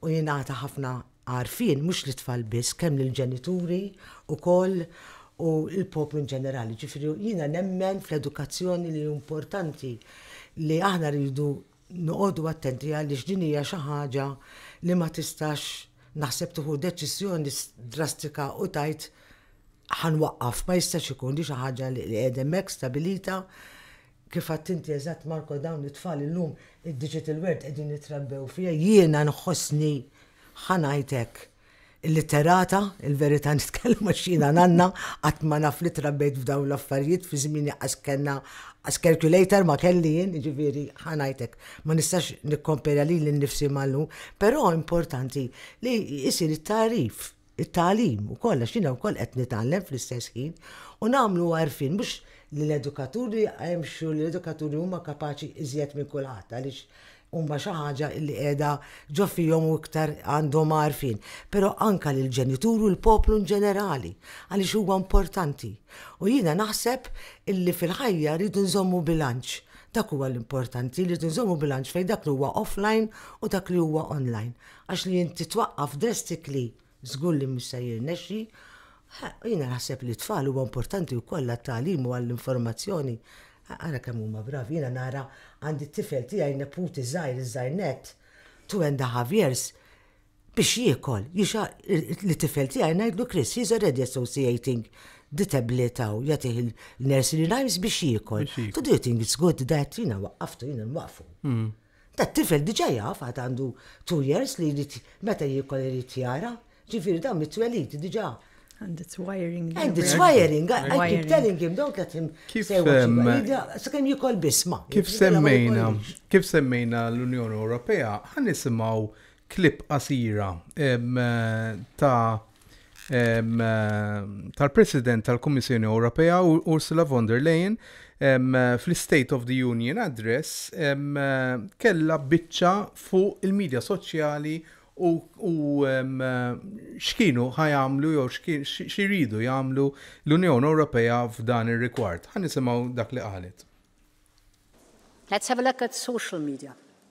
S4: u jingħata ħafna għarfien mhux lit-tfal biss kemm lill-ġenituri wkoll u l-poplu inġenerali. Jiġifieri jiena nemmen fl-edukazzjoni li importanti li aħna rridu Noqogħdu attenti għaliex din hija xi ħaġa li ma tistax naħseb tieħu deċiżjoni drastika u tgħid ħa nwaqqaf, ma jistax ikun, hi xi ħaġa li qiegħda hemmhekk stabilita. Kif għedt inti eżatt Marco dawn it-tfal illum id-digital world qegħdin jitrabbew fiha, jiena nħossni ħa ngħid hekk, Illitterata, il-verità nitkellem għax jiena nanna, qatt ma naf li trabbejt f'dawn l-affarijiet, fi żmieni qas kellna qas calculator ma kelli jien, jiġifieri ħa ngħidlek, ma nistax nikkompera lili nnifsi ma' llum, però importanti li jsir it-tagħrif, it-tagħlim ukoll għax jiena wkoll qed nitgħallem fl-istess ħin u nagħmlu għarfien mhux lill-edukaturi għax l-edukaturi huma kapaċi iżjed minn kulħadd għaliex huma xi ħaġa li qiegħda ġo fihom u iktar għandhom għarfien, però anke lill-ġenituri u l-poplu in ġenerali għaliex huwa importanti. U jiena naħseb illi fil-ħajja rridu nżommu bilanċ. Dak huwa l-importanti li nżommu bilanċ fejn dak li huwa offline u dak li huwa online. Għax li inti twaqqaf drastically Żgur li mhux se jirnexxi. Jiena naħseb li t-tfal huwa importanti wkoll għat-tagħlim u għall-informazzjoni. Ara kemm huma bravi, jiena nara għandi t-tifel tiegħi neputi żgħir iż-żgħir nett, two and a half years, biex jiekol, lit-tifel tiegħi ngħidlu Chris, he is already associating the tablet hawn, jagħtih il-nursery rhymes biex jiekol. To do you think it's good that? Jiena waqqaftu, jiena nwaqqfu. Hmm. Ta' tifel diġa jaf għad għandu two years li jrid meta jiekol irid jara, ġifieri dan mit-twelid diġa. And it's wiring.
S3: And it's wiring.
S4: I keep telling him, don't let him say what you Sakemm jikol bisma. Kif semmejna,
S2: kif semmejna l-Unjoni Ewropea, ħan nisimgħu clip qasira ta' tal-President tal-Kummissjoni Ewropea Ursula von der Leyen fl-State of the Union Address kellha biċċa fuq il-midja soċjali u x'kienu ħa jagħmlu jew x'iridu jagħmlu l-Unjoni Ewropea f'dan ir-rigward. Ħa nisimgħu dak li qalet.
S7: Let's have a look at social media.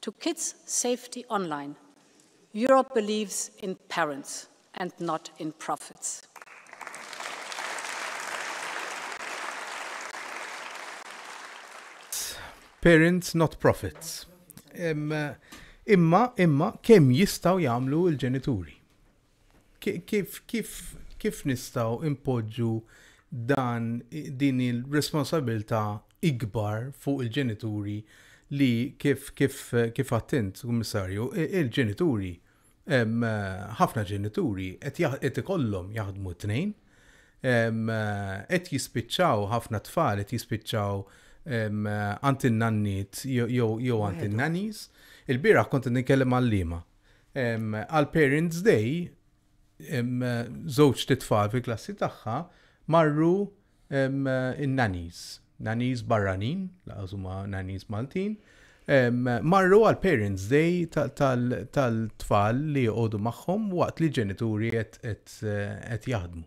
S7: To kids safety online, Europe believes in parents and not in profits.
S2: Parents not profits. Imma, imma, kemm jistaw jamlu il-ġenituri? Kif nistgħu npoġġu dan din il-responsabilità ikbar fuq il-ġenituri li kif għadt int, Kummissarju, il-ġenituri, ħafna ġenituri qed ikollhom jaħdmu t-tnejn, qed jispiċċaw ħafna tfal qed jispiċċaw għand in-nanniet jew għand in-nannies. Il-bieraħ kont qed nitkellem ma' għalliema Għal Parents Day, żewġt itfal fil-klassi tagħha marru in-nannies, nannies barranin, laqas huma nannies Maltin, marru għal Parents Day tal-tfal li joqogħdu magħhom waqt li ġenituri qed jaħdmu.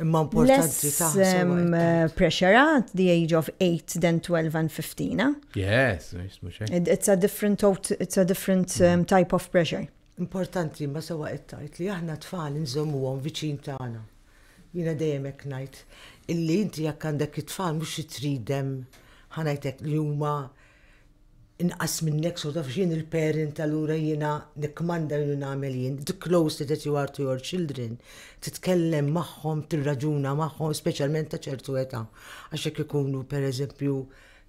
S3: Imma importanti ta' eh, pressure at the age of 8 than 12 and 15. Eh? Yes, it's
S2: a
S3: different it's a different mm. um, type of pressure. Importanti ma
S4: sewa qed tgħid li aħna tfal nżommuhom viċin tagħna. Jiena dejjem hekk ngħid illi inti jekk għandek it-tfal mhux tridem ħanajtek li huma inqas minnek so taf x'jien il-parent allura jiena nikkmanda u nagħmel jien, the close that you are to your children, titkellem magħhom, tirraġuna magħhom, speċjalment ta' ċertu età. Għax jekk ikunu pereżempju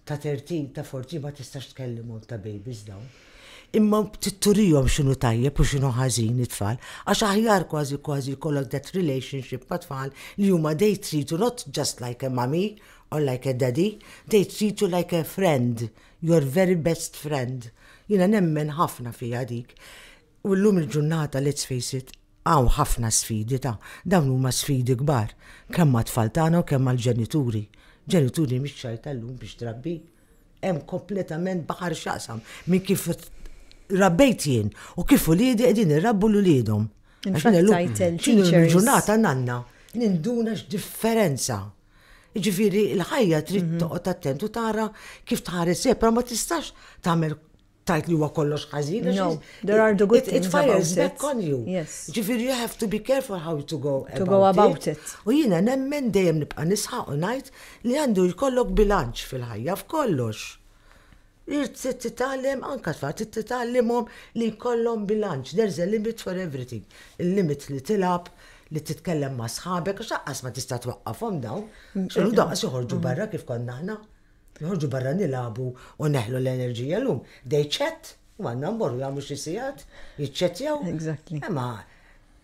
S4: ta' 13, ta' 14 ma tistax tkellimhom ta' babies dawn. Imma titturihom x'inhu tajjeb u x'inhu ħażin it-tfal, għax aħjar kważi kważi jkollok that relationship ma' tfal li huma they treat you not just like a mummy All like a daddy, they treat you like a friend, your very best friend. Jiena nemmen ħafna fiha dik. U llum il-ġurnata, let's face it, hawn ħafna sfidi ta', dawn huma sfidi kbar, kemm għat-tfal tagħna u kemm għall-ġenituri. Ġenituri mhix xajta llum biex trabbi. Hemm kompletament baħar x'jaqsam minn kif rabbejt jien u kif uliedi qegħdin irabbu l uliedhom. X'inhu l-ġurnata nanna ninduna x'differenza. Jiġifieri l-ħajja trid mhm. toqgħod attent u tara kif tħares sepp, ma tistax tagħmel tajt li huwa kollox ħażin. No, there are the good
S3: it, things it fires about back it. on you. Yes.
S4: Ġifieri you have
S3: to be
S4: careful how to go to about go about it. it.
S3: U jiena nemmen
S4: dejjem nibqa' nisħaq u ngħid li għandu jkollok bilanċ fil-ħajja f'kollox. Irid titgħallem anke tfal, trid titgħallimhom li jkollhom bilanċ, there is a limit for everything. Il-limit li tilgħab, li titkellem ma' sħabek, għax lanqas ma tista' twaqqafhom dawn. X'inhu daqs joħorġu barra kif konna aħna. Joħorġu barra nilagħbu u neħlu l-enerġija llum. They chat, u għandna mmorru jagħmlu xi sigħat, jiċċettjaw. Exactly. Imma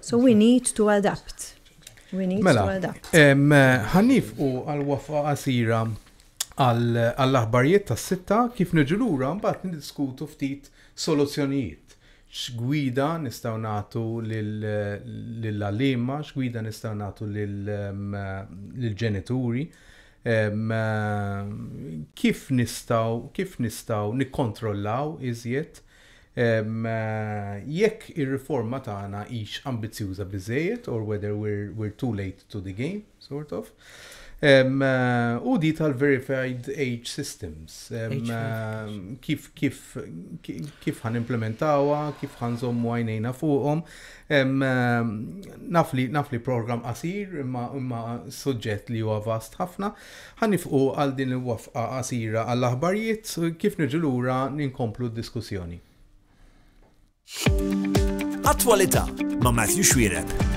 S3: So we need to adapt. We need mela, to adapt.
S2: Ħannif u għal-wafa għasira għall-aħbarijiet tas sitta kif niġu lura mbagħad niddiskutu ftit soluzzjonijiet. X'gwida nistgħu nagħtu lill-għalima, x'gwida nistgħu nagħtu lill-ġenituri, kif nistgħu kif nistgħu nikkontrollaw iżjed jekk ir-riforma tagħna hix ambizzjuża biżżejjed or whether we're, we're too late to the game, sort of. Um, u di tal-verified age systems. Um, uh, kif kif kif ħan implementawa, kif ħan zommu għajnejna fuqhom. Um, nafli nafli program qasir imma imma suġġett li huwa vast ħafna. Ħa nifqu għal din il-wafqa qasira għall-aħbarjiet, kif nerġu lura inkomplu d-diskussjoni.
S1: Attwalità ma' Matthew Xuereb.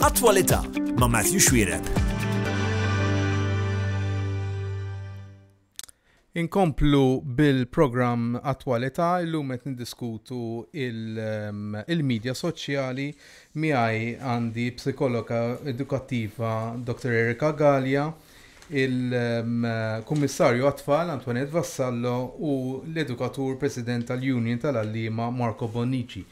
S1: Attwalità ma' Matthew Xwireb.
S2: Inkomplu bil-programm Attwalità illum qed niddiskutu ehm, il-medja soċjali miegħi għandi psikologa edukattiva Dr. Erika Gallia il-Kummissarju għat-Tfal Antoinette Vassallo u l-edukatur President tal-Union tal-Għalliema Marco Bonnici.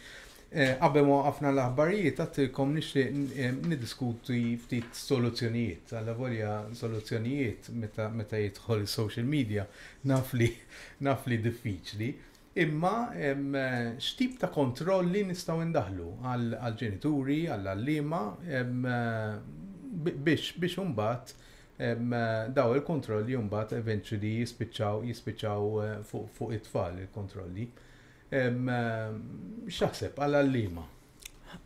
S2: Eh, qabel ma waqafna l-aħbarijiet għattilkom nixtieq eh, niddiskuti ftit soluzzjonijiet. Alla volja soluzzjonijiet meta, meta jidħol is-social media naf li naf li diffiċli. Imma x'tip ta' kontrolli nistgħu ndaħħlu għall-ġenituri, għall-għalliema biex imbagħad dawn il-kontrolli mbagħad eventually jispiċċaw jispiċċaw fuq it-tfal il-kontrolli. X'taħseb għall-għalliema?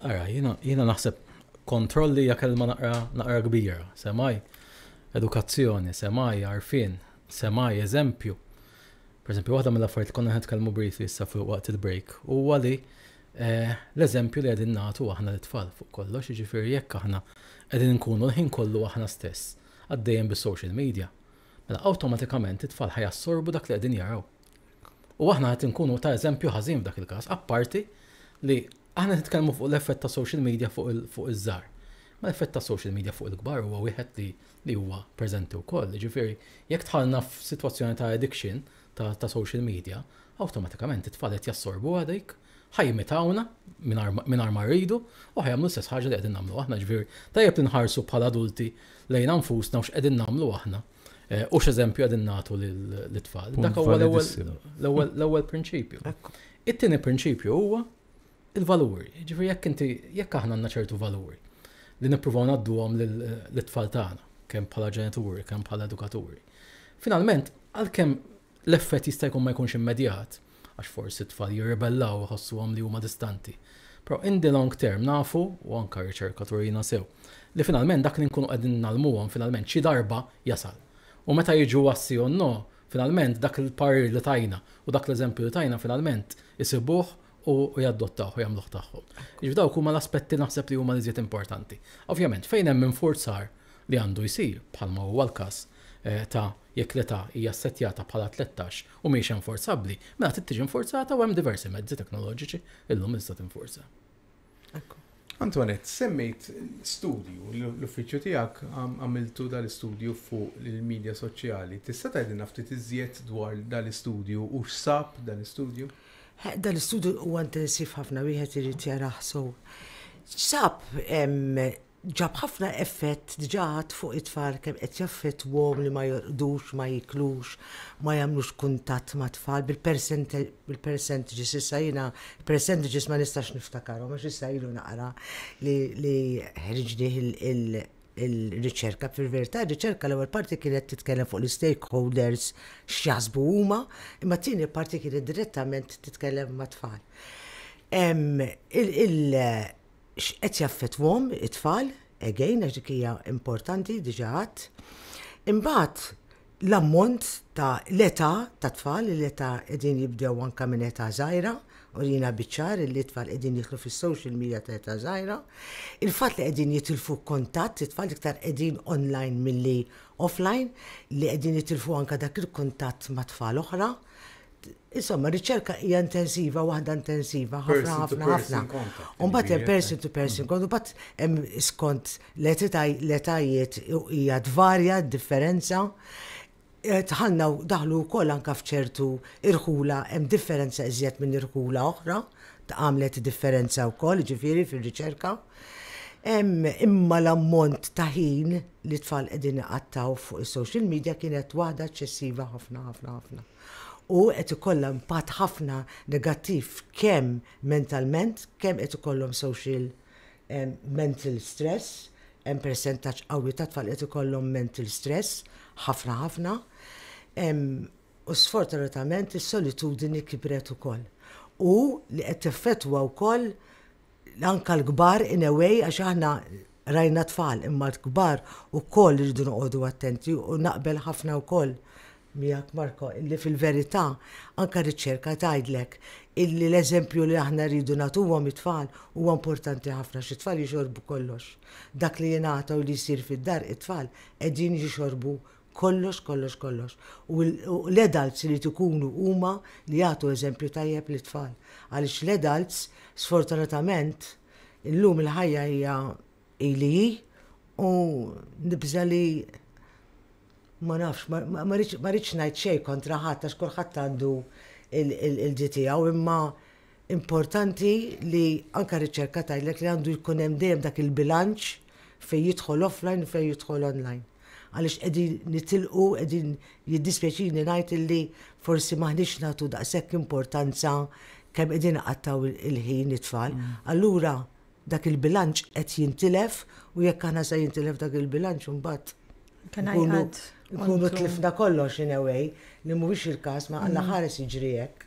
S2: Ara,
S5: jiena jiena naħseb kontrolli hija kelma naqra naqra kbira, semgħi edukazzjoni, semgħi għarfien, semgħi eżempju. Per eżempju, waħda mill-affarijiet li konna nitkellmu briefly issa fuq waqt il-break huwa li eh, l-eżempju li qegħdin nagħtu aħna l-tfal fuq kollox, jiġifieri jekk aħna qegħdin nkunu l-ħin kollu aħna stess għaddejjem bis-social media. Mela awtomatikament it-tfal ħajassorbu dak li qegħdin jaraw. U aħna qed inkunu ta' eżempju ħażin f'dak il-każ, apparti li aħna qed nitkellmu fuq l-effett ta' social media fuq iż-żgħar. Ma l-effett ta' social media fuq il-kbar huwa wieħed li li huwa preżenti wkoll. Jiġifieri, jekk dħalna f'sitwazzjoni ta' addiction ta' ta' social media, awtomatikament it-tfal qed jassorbuha dik, ħa jimitawna mingħajr ma rridu u ħa jagħmlu l-istess ħaġa li qegħdin nagħmlu aħna. Jiġifieri, tajjeb li nħarsu bħala adulti lejna nfusna u x'qegħdin nagħmlu aħna. Eh, u x'eżempju għadin nagħtu lit-tfal. Dak huwa l-ewwel prinċipju. It-tieni prinċipju huwa il-valuri. Ġifieri jekk inti jekk aħna għandna ċertu valuri li nippruvaw ngħadduhom lit-tfal tagħna, kemm bħala ġenituri, kemm bħala edukaturi. Finalment, għalkemm L-effett jista' jkun ma jkunx immedjat, għax forsi t-tfal jirribellaw u jħossuhom li huma distanti. Però in the long term nafu, u anke r-riċerka turina sew, li finalment dak li nkunu qegħdin ngħallmuhom finalment xi darba jasal. U meta jiġu għas-si u n-no, finalment dak il-parir li tajna u dak l-eżempju li tajna finalment isibuh u jaddottawh u jagħmluh tagħhom. Jiġifieri dawk huma l-aspetti naħseb li huma l-iżjed importanti. Ovvjament, fejn hemm infurzar li għandu jsir, bħalma huwa l-każ eh, ta' jekk l-età hija ssettjata bħala 13 u mhijiex enforzabbli, mela trid tiġi infurzata u hemm diversi mezzi teknoloġiċi illum li tista' tinfurza.
S2: Antoinette, semmejt studju, l-uffiċċju tiegħek għamiltu dal-istudju fuq il-medja soċjali. Tista' tgħidilna ftit iżjed dwar dal-istudju u x'sab dal-istudju? Dal-istudju
S4: huwa intensiv ħafna wieħed irid jarah sew. X'sab ġab ħafna effett diġà għad fuq it-tfal kemm qed jaffettwahom li ma jorqdux, ma jiklux, ma jagħmlux kuntatt mat-tfal bil-percentages issa jiena l-percentages ma nistax niftakarhom għax issa ilu naqra li ħriġnih il-riċerka. Fil-verità r-riċerka l-ewwel parti kienet titkellem fuq l-istakeholders x'jaħsbu huma, imma t-tieni parti kienet direttament titkellem mat-tfal. x'qed jaffettwahom it-tfal, again, għax dik hija importanti, diġà għadt. Imbagħad l-ammont ta' l-età ta' tfal, l-età qegħdin jibdew anke minn età żgħira, u jina biċċar li tfal qegħdin jitlu fis-social media ta' età żgħira. Il-fatt li qegħdin jitilfu kontatt, it-tfal iktar qegħdin online milli offline, li qegħdin jitilfu anke dak il-kuntatt ma' tfal oħra. Insomma, riċerka hija intensiva, waħda intensiva, ħafna ħafna ħafna. U mbagħad hemm person to person, kont mbagħad hemm skont l-etajiet hija tvarja d-differenza. Eh, tħanna daħlu wkoll anka f'ċertu irħula hemm differenza iżjed minn irħula oħra, għamlet differenza wkoll ġifieri fir-riċerka. Imma l-ammont ta' ħin li tfal qegħdin iqattaw fuq is-social media kienet waħda eċċessiva ħafna ħafna ħafna. u qed ikollha impatt ħafna negattiv kemm mentalment, kemm qed ikollhom social mental stress, hemm persentaġġ qawwi ta' tfal li qed ikollhom mental stress, ħafna ħafna. U sfortunatament is-solitudini kibret ukoll u li qed teffettwa wkoll anke l-kbar in a way għax aħna rajna tfal imma l-kbar ukoll irridu noqogħdu attenti u naqbel ħafna wkoll miegħek Marco illi fil-verità anke r-riċerka tgħidlek illi l-eżempju li aħna rridu nagħtuhom it-tfal huwa importanti ħafna għax it-tfal jixorbu kollox. Dak li jingħata u li jsir fid-dar it-tfal qegħdin jixorbu Kollox, kollox, kollox. U l-adults irid ikunu huma li jagħtu eżempju tajjeb lit-tfal. Għaliex l-adults, sfortunatament, illum il-ħajja hija hi li hi u nibża' li ma nafx, ma rridx ngħid xejn kontra ħadd għax kulħadd għandu l-ġid tiegħu imma Importanti li anke r-riċerka tgħidlek li għandu jkun hemm dejjem dak il-bilanċ fejn jidħol offline u fejn jidħol online. Għaliex qegħdin nitilqu, qegħdin jiddispjaċini ngħid illi forsi m'aħniex nagħtu daqshekk importanza kemm qegħdin iqattgħu l-ħin it-tfal. Allura dak il-bilanċ qed jintilef u jekk aħna se jintilef dak il-bilanċ imbagħad nkunu tlifna kollox in a way li mhuwiex il-każ ma Alla ħares jiġri hekk.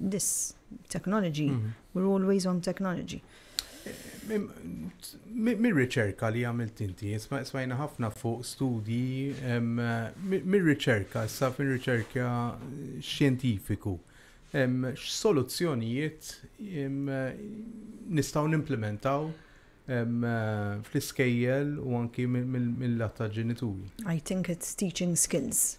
S3: this technology, we're always on technology.
S2: Mir-riċerka li għamilt inti, smajna ħafna fuq studji, mir-riċerka, sa fin riċerka xjentifiku, x'soluzzjonijiet nistgħu nimplementaw fl-iskejjel u anki mill-latta ġenituri? I think it's
S3: teaching skills.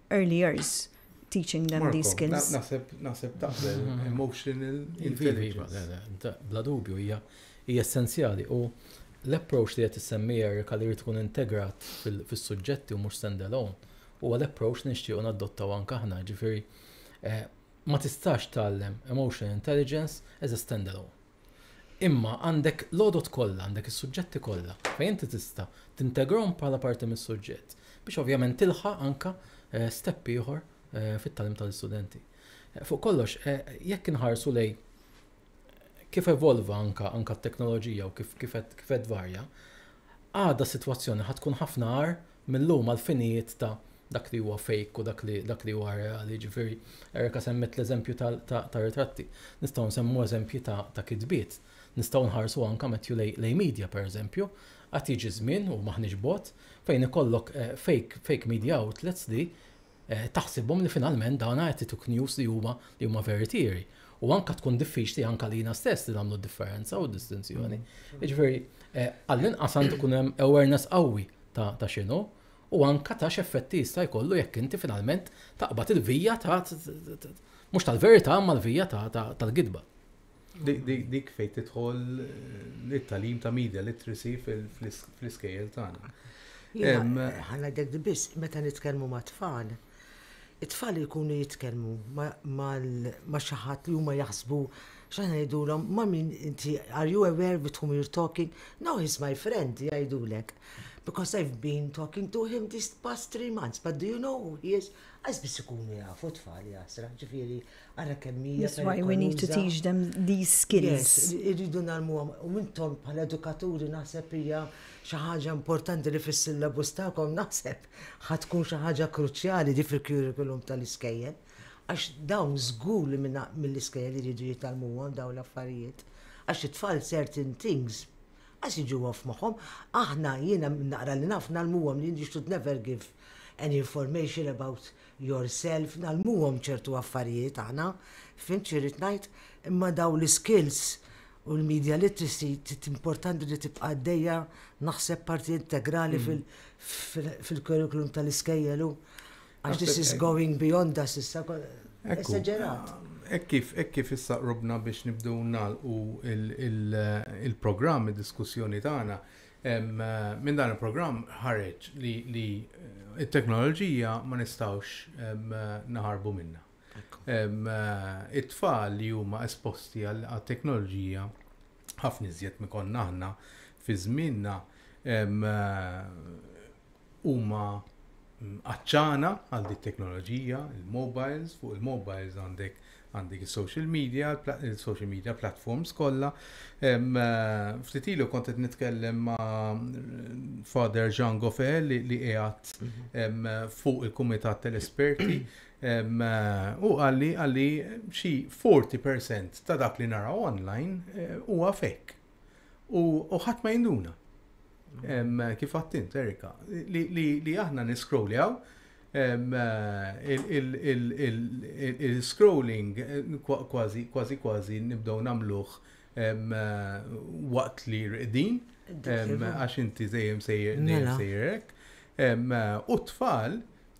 S3: early years teaching them Marco, these skills. Naħseb naħseb taqbel
S2: mm-hmm. emotional iva, intelligence. Iva, iva, bla dubju
S5: hija hija essenzjali u l-approach li qed issemmi Erika li tkun integrat fis-suġġetti u mhux standalone huwa l-approach li nixtiequ nadottaw anke aħna, ġifieri eh, ma tistax tgħallem emotional intelligence as a standalone. Imma għandek l-għodod kollha, għandek is-suġġetti kollha fejn inti tista' tintegrahom bħala parti mis-suġġett biex ovvjament tilħaq anke step ieħor fit-tagħlim tal-istudenti. Fuq kollox, jekk inħarsu lejn kif evolva anke anke t-teknoloġija u kif kif qed kif qed varja, Għada s-sitwazzjoni ħa tkun ħafna agħar mil-lum għall-finijiet ta' dak li huwa fake u dak li huwa reali, jiġifieri Erica semmiet l-eżempju tar-ritratti. Nistgħu nsemmu eżempji ta' kitbiet. Nistgħu nħarsu anke Matthew lejn media pereżempju. Għad jiġi żmien, u m'aħniex bogħod, fejn ikollok fake media outlets li taħsibhom li finalment dawna qed ituk news li huma li huma veritieri. U anka tkun diffiċli anka lina stess li nagħmlu differenza u distinzjoni. Mm. Ġifieri, eh, għall-inqas għandu kun hemm awareness qawwi ta' ta' x'inhu u anka ta' x'effetti jista' jkollu jekk inti finalment taqbad il-vija ta' mhux tal-verità ma l-vija tal-gidba.
S2: Dik fejn tidħol it-talim ta' media literacy fl-iskejjel tagħna.
S4: Ħalla dek biss, meta nitkellmu ma' tfal, it-tfal jkunu jitkellmu ma' xi ħadd li huma jaħsbu x'aħna ngħidulhom ma' min inti are you aware with whom you're talking? No, he's my friend jgħidulek. Because I've been talking to him these past three months, but do you know who he is? Għax biss ikunu jafu tfal jasra, ġifieri Ara kemm hija. That's why we need to teach
S3: them these skills. Irridu nagħlmuhom
S4: u intom bħala edukaturi naħseb hija xi ħaġa importanti li fis-syllabus tagħkom naħseb ħad tkun xi ħaġa kruċjali di fil-curriculum tal-iskejjel għax dawn żgur li mill-iskejjel iridu jitalmuhom dawn l-affarijiet. Għax it-tfal certain things għas iġu għaf maħom, aħna jiena naqra li naf nalmuhom li you should never give any information about yourself, ngħallmuhom ċertu affarijiet aħna, fhimt x'irrid ngħid? Imma dawn l-iskills u l-media literacy importanti li tibqa' għaddejja naħseb parti integrali fil-curriculum tal-iskejjel u għax this is going beyond us issa esagerat. Ek kif, ek
S2: kif issa qrubna biex nibdew nagħlqu il-programm, id-diskussjoni tagħna, Minn dan il-programm ħareġ li t-teknoloġija ma nistgħux naħarbu minnha. It-tfal li huma esposti għat-teknoloġija ħafna iżjed minn konna aħna fi żmienna huma għat-ċana għal din it-teknoloġija, il-mobiles, fuq il-mobiles għandek għandek il-social media, il-social media platforms kollha. Eh, ftit ilu kont qed nitkellem ma' Father Jean Goffel li qiegħed mhm. fuq il-Kumitat tal-Esperti eh, u għalli għalli xi 40% ta' dak li naraw online eh, huwa fake. U ħadd ma jinduna. Kif għattint, Erika, li aħna niskroljaw il-scrolling kważi kważi kważi nibdew nagħmluh waqt li rqdin għax inti dejjem sejjer mela. sejjerek. U t-tfal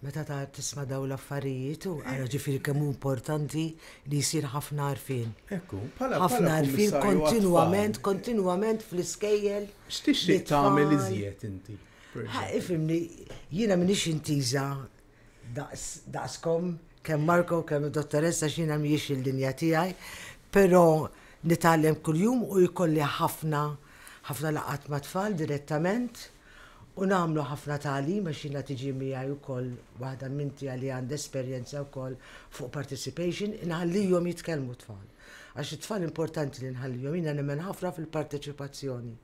S4: Meta ta' tisma' daw l-affarijiet, u ara ġifieri kemm hu importanti li jsir ħafna għarfien. Ekku, bħala ħafna
S2: għarfien
S4: kontinwament, kontinwament fl-iskejjel. X'tixtieq tagħmel
S2: iżjed inti? Ifhimni,
S4: jiena m'iniex intiża daqskom, kemm Marco, kemm id-dottoressa x'jiena mhijiex il-linja tiegħi, però nitgħallem kuljum u jkolli ħafna, ħafna laqgħat mat-tfal direttament. U nagħmlu ħafna tagħlim għax jiena tiġi miegħi wkoll waħda minn tiegħi li għandha esperjenza wkoll fuq participation, inħallihom jitkellmu t-tfal. Għax it-tfal importanti li nħallihom, jiena nemmen ħafna fil-parteċipazzjoni.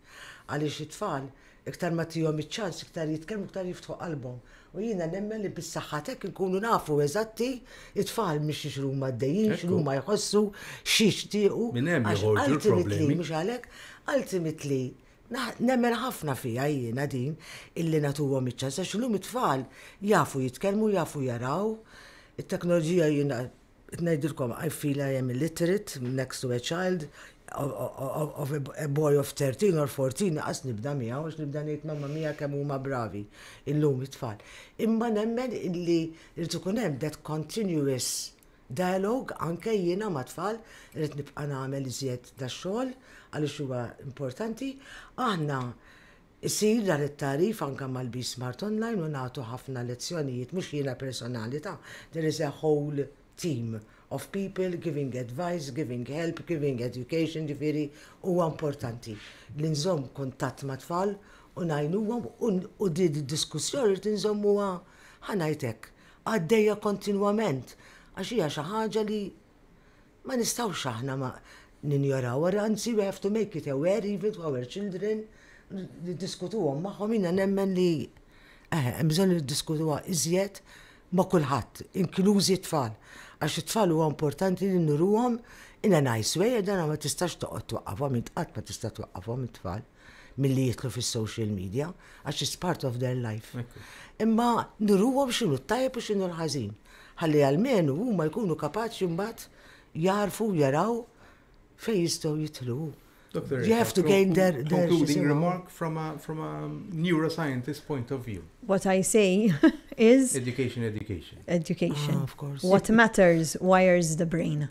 S4: Għaliex it-tfal iktar ma tihom iċ-ċans iktar jitkellmu iktar jiftħu qalbhom. U jiena nemmen li bis-saħħa t'hekk inkunu nafu eżatti it-tfal mhix x'huma għaddejjin, x'huma jħossu, x'jixtiequ. Minn hemm joħorġu
S2: l-problemi. Mhux għalhekk,
S4: ultimately Nemmen ħafna fiha jiena din illi nagħtuhom iċ-ċans għax illum it-tfal jafu jitkellmu, jafu jaraw. It-teknoloġija jiena qed ngħidilkom I feel I am illiterate next to a child of a boy of 13 or 14 naqas nibda miegħu għax nibda ngħid mamma mia kemm huma bravi illum it-tfal. Imma nemmen illi jrid ikun hemm that continuous Dialogue anke jiena mat-tfal irrid nibqa' nagħmel iżjed dax-xogħol għaliex huwa importanti. Aħna jsir dan it-tagħrif anke mal-BSmart Online u nagħtu ħafna lezzjonijiet, mhux jiena personali ta', there is a whole team of people giving advice, giving help, giving education, ġifieri huwa importanti li nżomm kuntatt mat-tfal u ngħinuhom u din id-diskussjoni rrid inżommuha, ħa ngħid hekk, għaddejja kontinwament għax hija xi ħaġa li ma nistgħux aħna ma ninjorawha, anzi we have to make it aware even to our children, niddiskutuhom magħhom jiena nemmen li eħe, hemm bżonn li niddiskutuha iżjed ma' kulħadd, inklużi t-tfal. Għax it-tfal huwa importanti li nuruhom in a nice way, dan ma tistax toqgħod twaqqafhom, int qatt ma tista' twaqqafhom it-tfal. milli jitlu fis-social media, għax it's part of their life. Imma nuruhom x'inhu t-tajjeb u x'inhu l-ħażin. Ħalli għalmenu huma jkunu kapaċi mbagħad jarfu jaraw fejn jistgħu jitlu. Doctor, you have to gain their, their concluding remark
S2: from a from a neuroscientist point of view. What I say
S3: is education, education,
S2: education.
S4: Ah, of course. What matters
S3: wires the brain.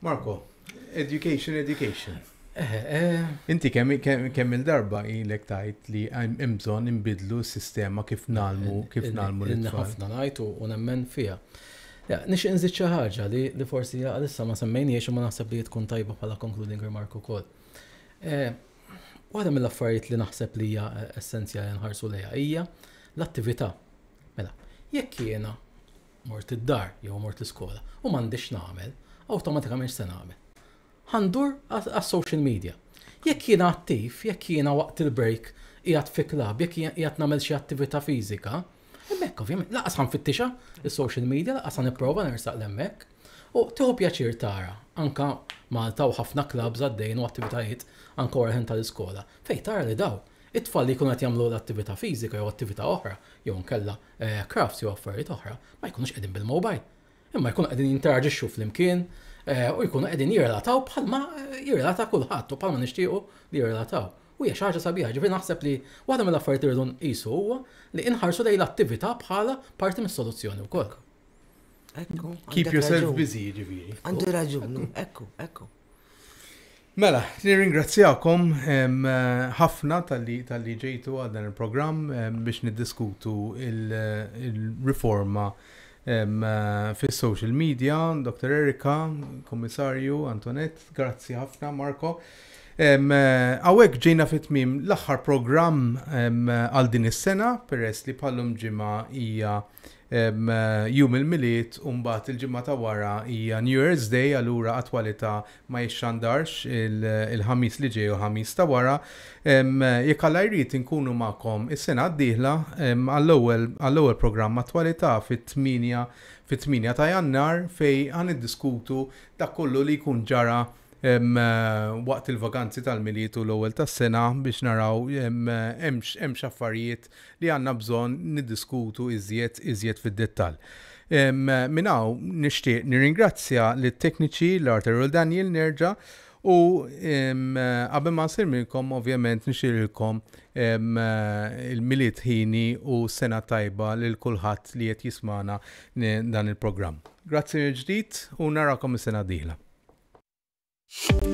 S2: Marko, education, education. Eh, eh. Inti kemm il-darba ilek tajt li hemm bżonn inbidlu s-sistema kif nalmu eh, kif nalmu l ħafna ngħid u
S5: nemmen fiha. Nix inżid xi ħaġa li forsi għalissa ma semmejniex u ma naħseb li tkun tajba bħala concluding remark ukoll. Waħda mill-affarijiet li naħseb li hija essenzjali nħarsu lejha hija l-attività. Mela, jekk jiena Mort id-dar jew mort l-iskola u m'għandix nagħmel, awtomatikament x'se nagħmel? Ħa ndur għas-social media. Jekk jiena attiv, jekk jiena waqt il-break qiegħed fi klabb, jekk qiegħed nagħmel xi attività fiżika, hemmhekk ovvjament lanqas ħa nfittixha s-social media, lanqas ħa nipprova nersaq 'l hemmhekk. U tieħu pjaċir tara anke Malta u ħafna klabbs għaddejjin u attivitajiet anke wara l-ħin tal-iskola fejn tara li dawn It-tfal li jkunu qed jagħmlu l-attività fiżika jew attività oħra jew inkella crafts jew affarijiet oħra ma jkunux qegħdin bil-mobile. Imma jkunu qegħdin jinteraġixxu flimkien u jkunu qegħdin jirrelataw bħalma jirrelata kulħadd u bħalma nixtiequ li jirrelataw. U hija xi ħaġa sabiħa, ġifieri naħseb li waħda mill-affarijiet li rridu nqisu huwa li inħarsu lejn l-attività bħala parti mis-soluzzjoni wkoll.
S4: Keep yourself
S2: busy, jiġifieri. Għandu raġun,
S4: ekku, ekku.
S2: Mela, nirringrazzjakom ħafna tal-li ġejtu għal dan il-programm biex niddiskutu il-riforma fis-social media, Dr. Erika, Kummissarju, Antoinette, grazzi ħafna Marko. Għawek ġejna fit-tmim l-aħħar programm għal din is-sena peress li bħallum ġimgħa hija Jum il-Milied u mbagħad il-ġimgħa ta' wara hija New Year's Day, allura Attwalità ma jixxandarx il-Ħamis li ġej u l-Ħamis ta' wara. Jekk Alla jrid inkunu magħkom is-sena d-dieħla għall-ewwel għall-ewwel programm Attwalità fit-tmienja fit-tmienja ta' Jannar fejn ħa niddiskutu dak kollu li jkun ġara waqt il-vaganzi tal-Milied u l-ewwel tas-sena biex naraw hemm x'affarijiet li għandna bżonn niddiskutu iżjed iżjed fid-dettall. Minn hawn nixtieq nirringrazzja lit-tekniċi l-Art Errol Daniel nerġa' u qabel ma nsir minnkom ovvjament nixililkom il-Milied Ħini u sena tajba lil kulħadd li qed jismana dan il-programm. Grazzi mill-ġdid u narakom is-sena d-dieħla.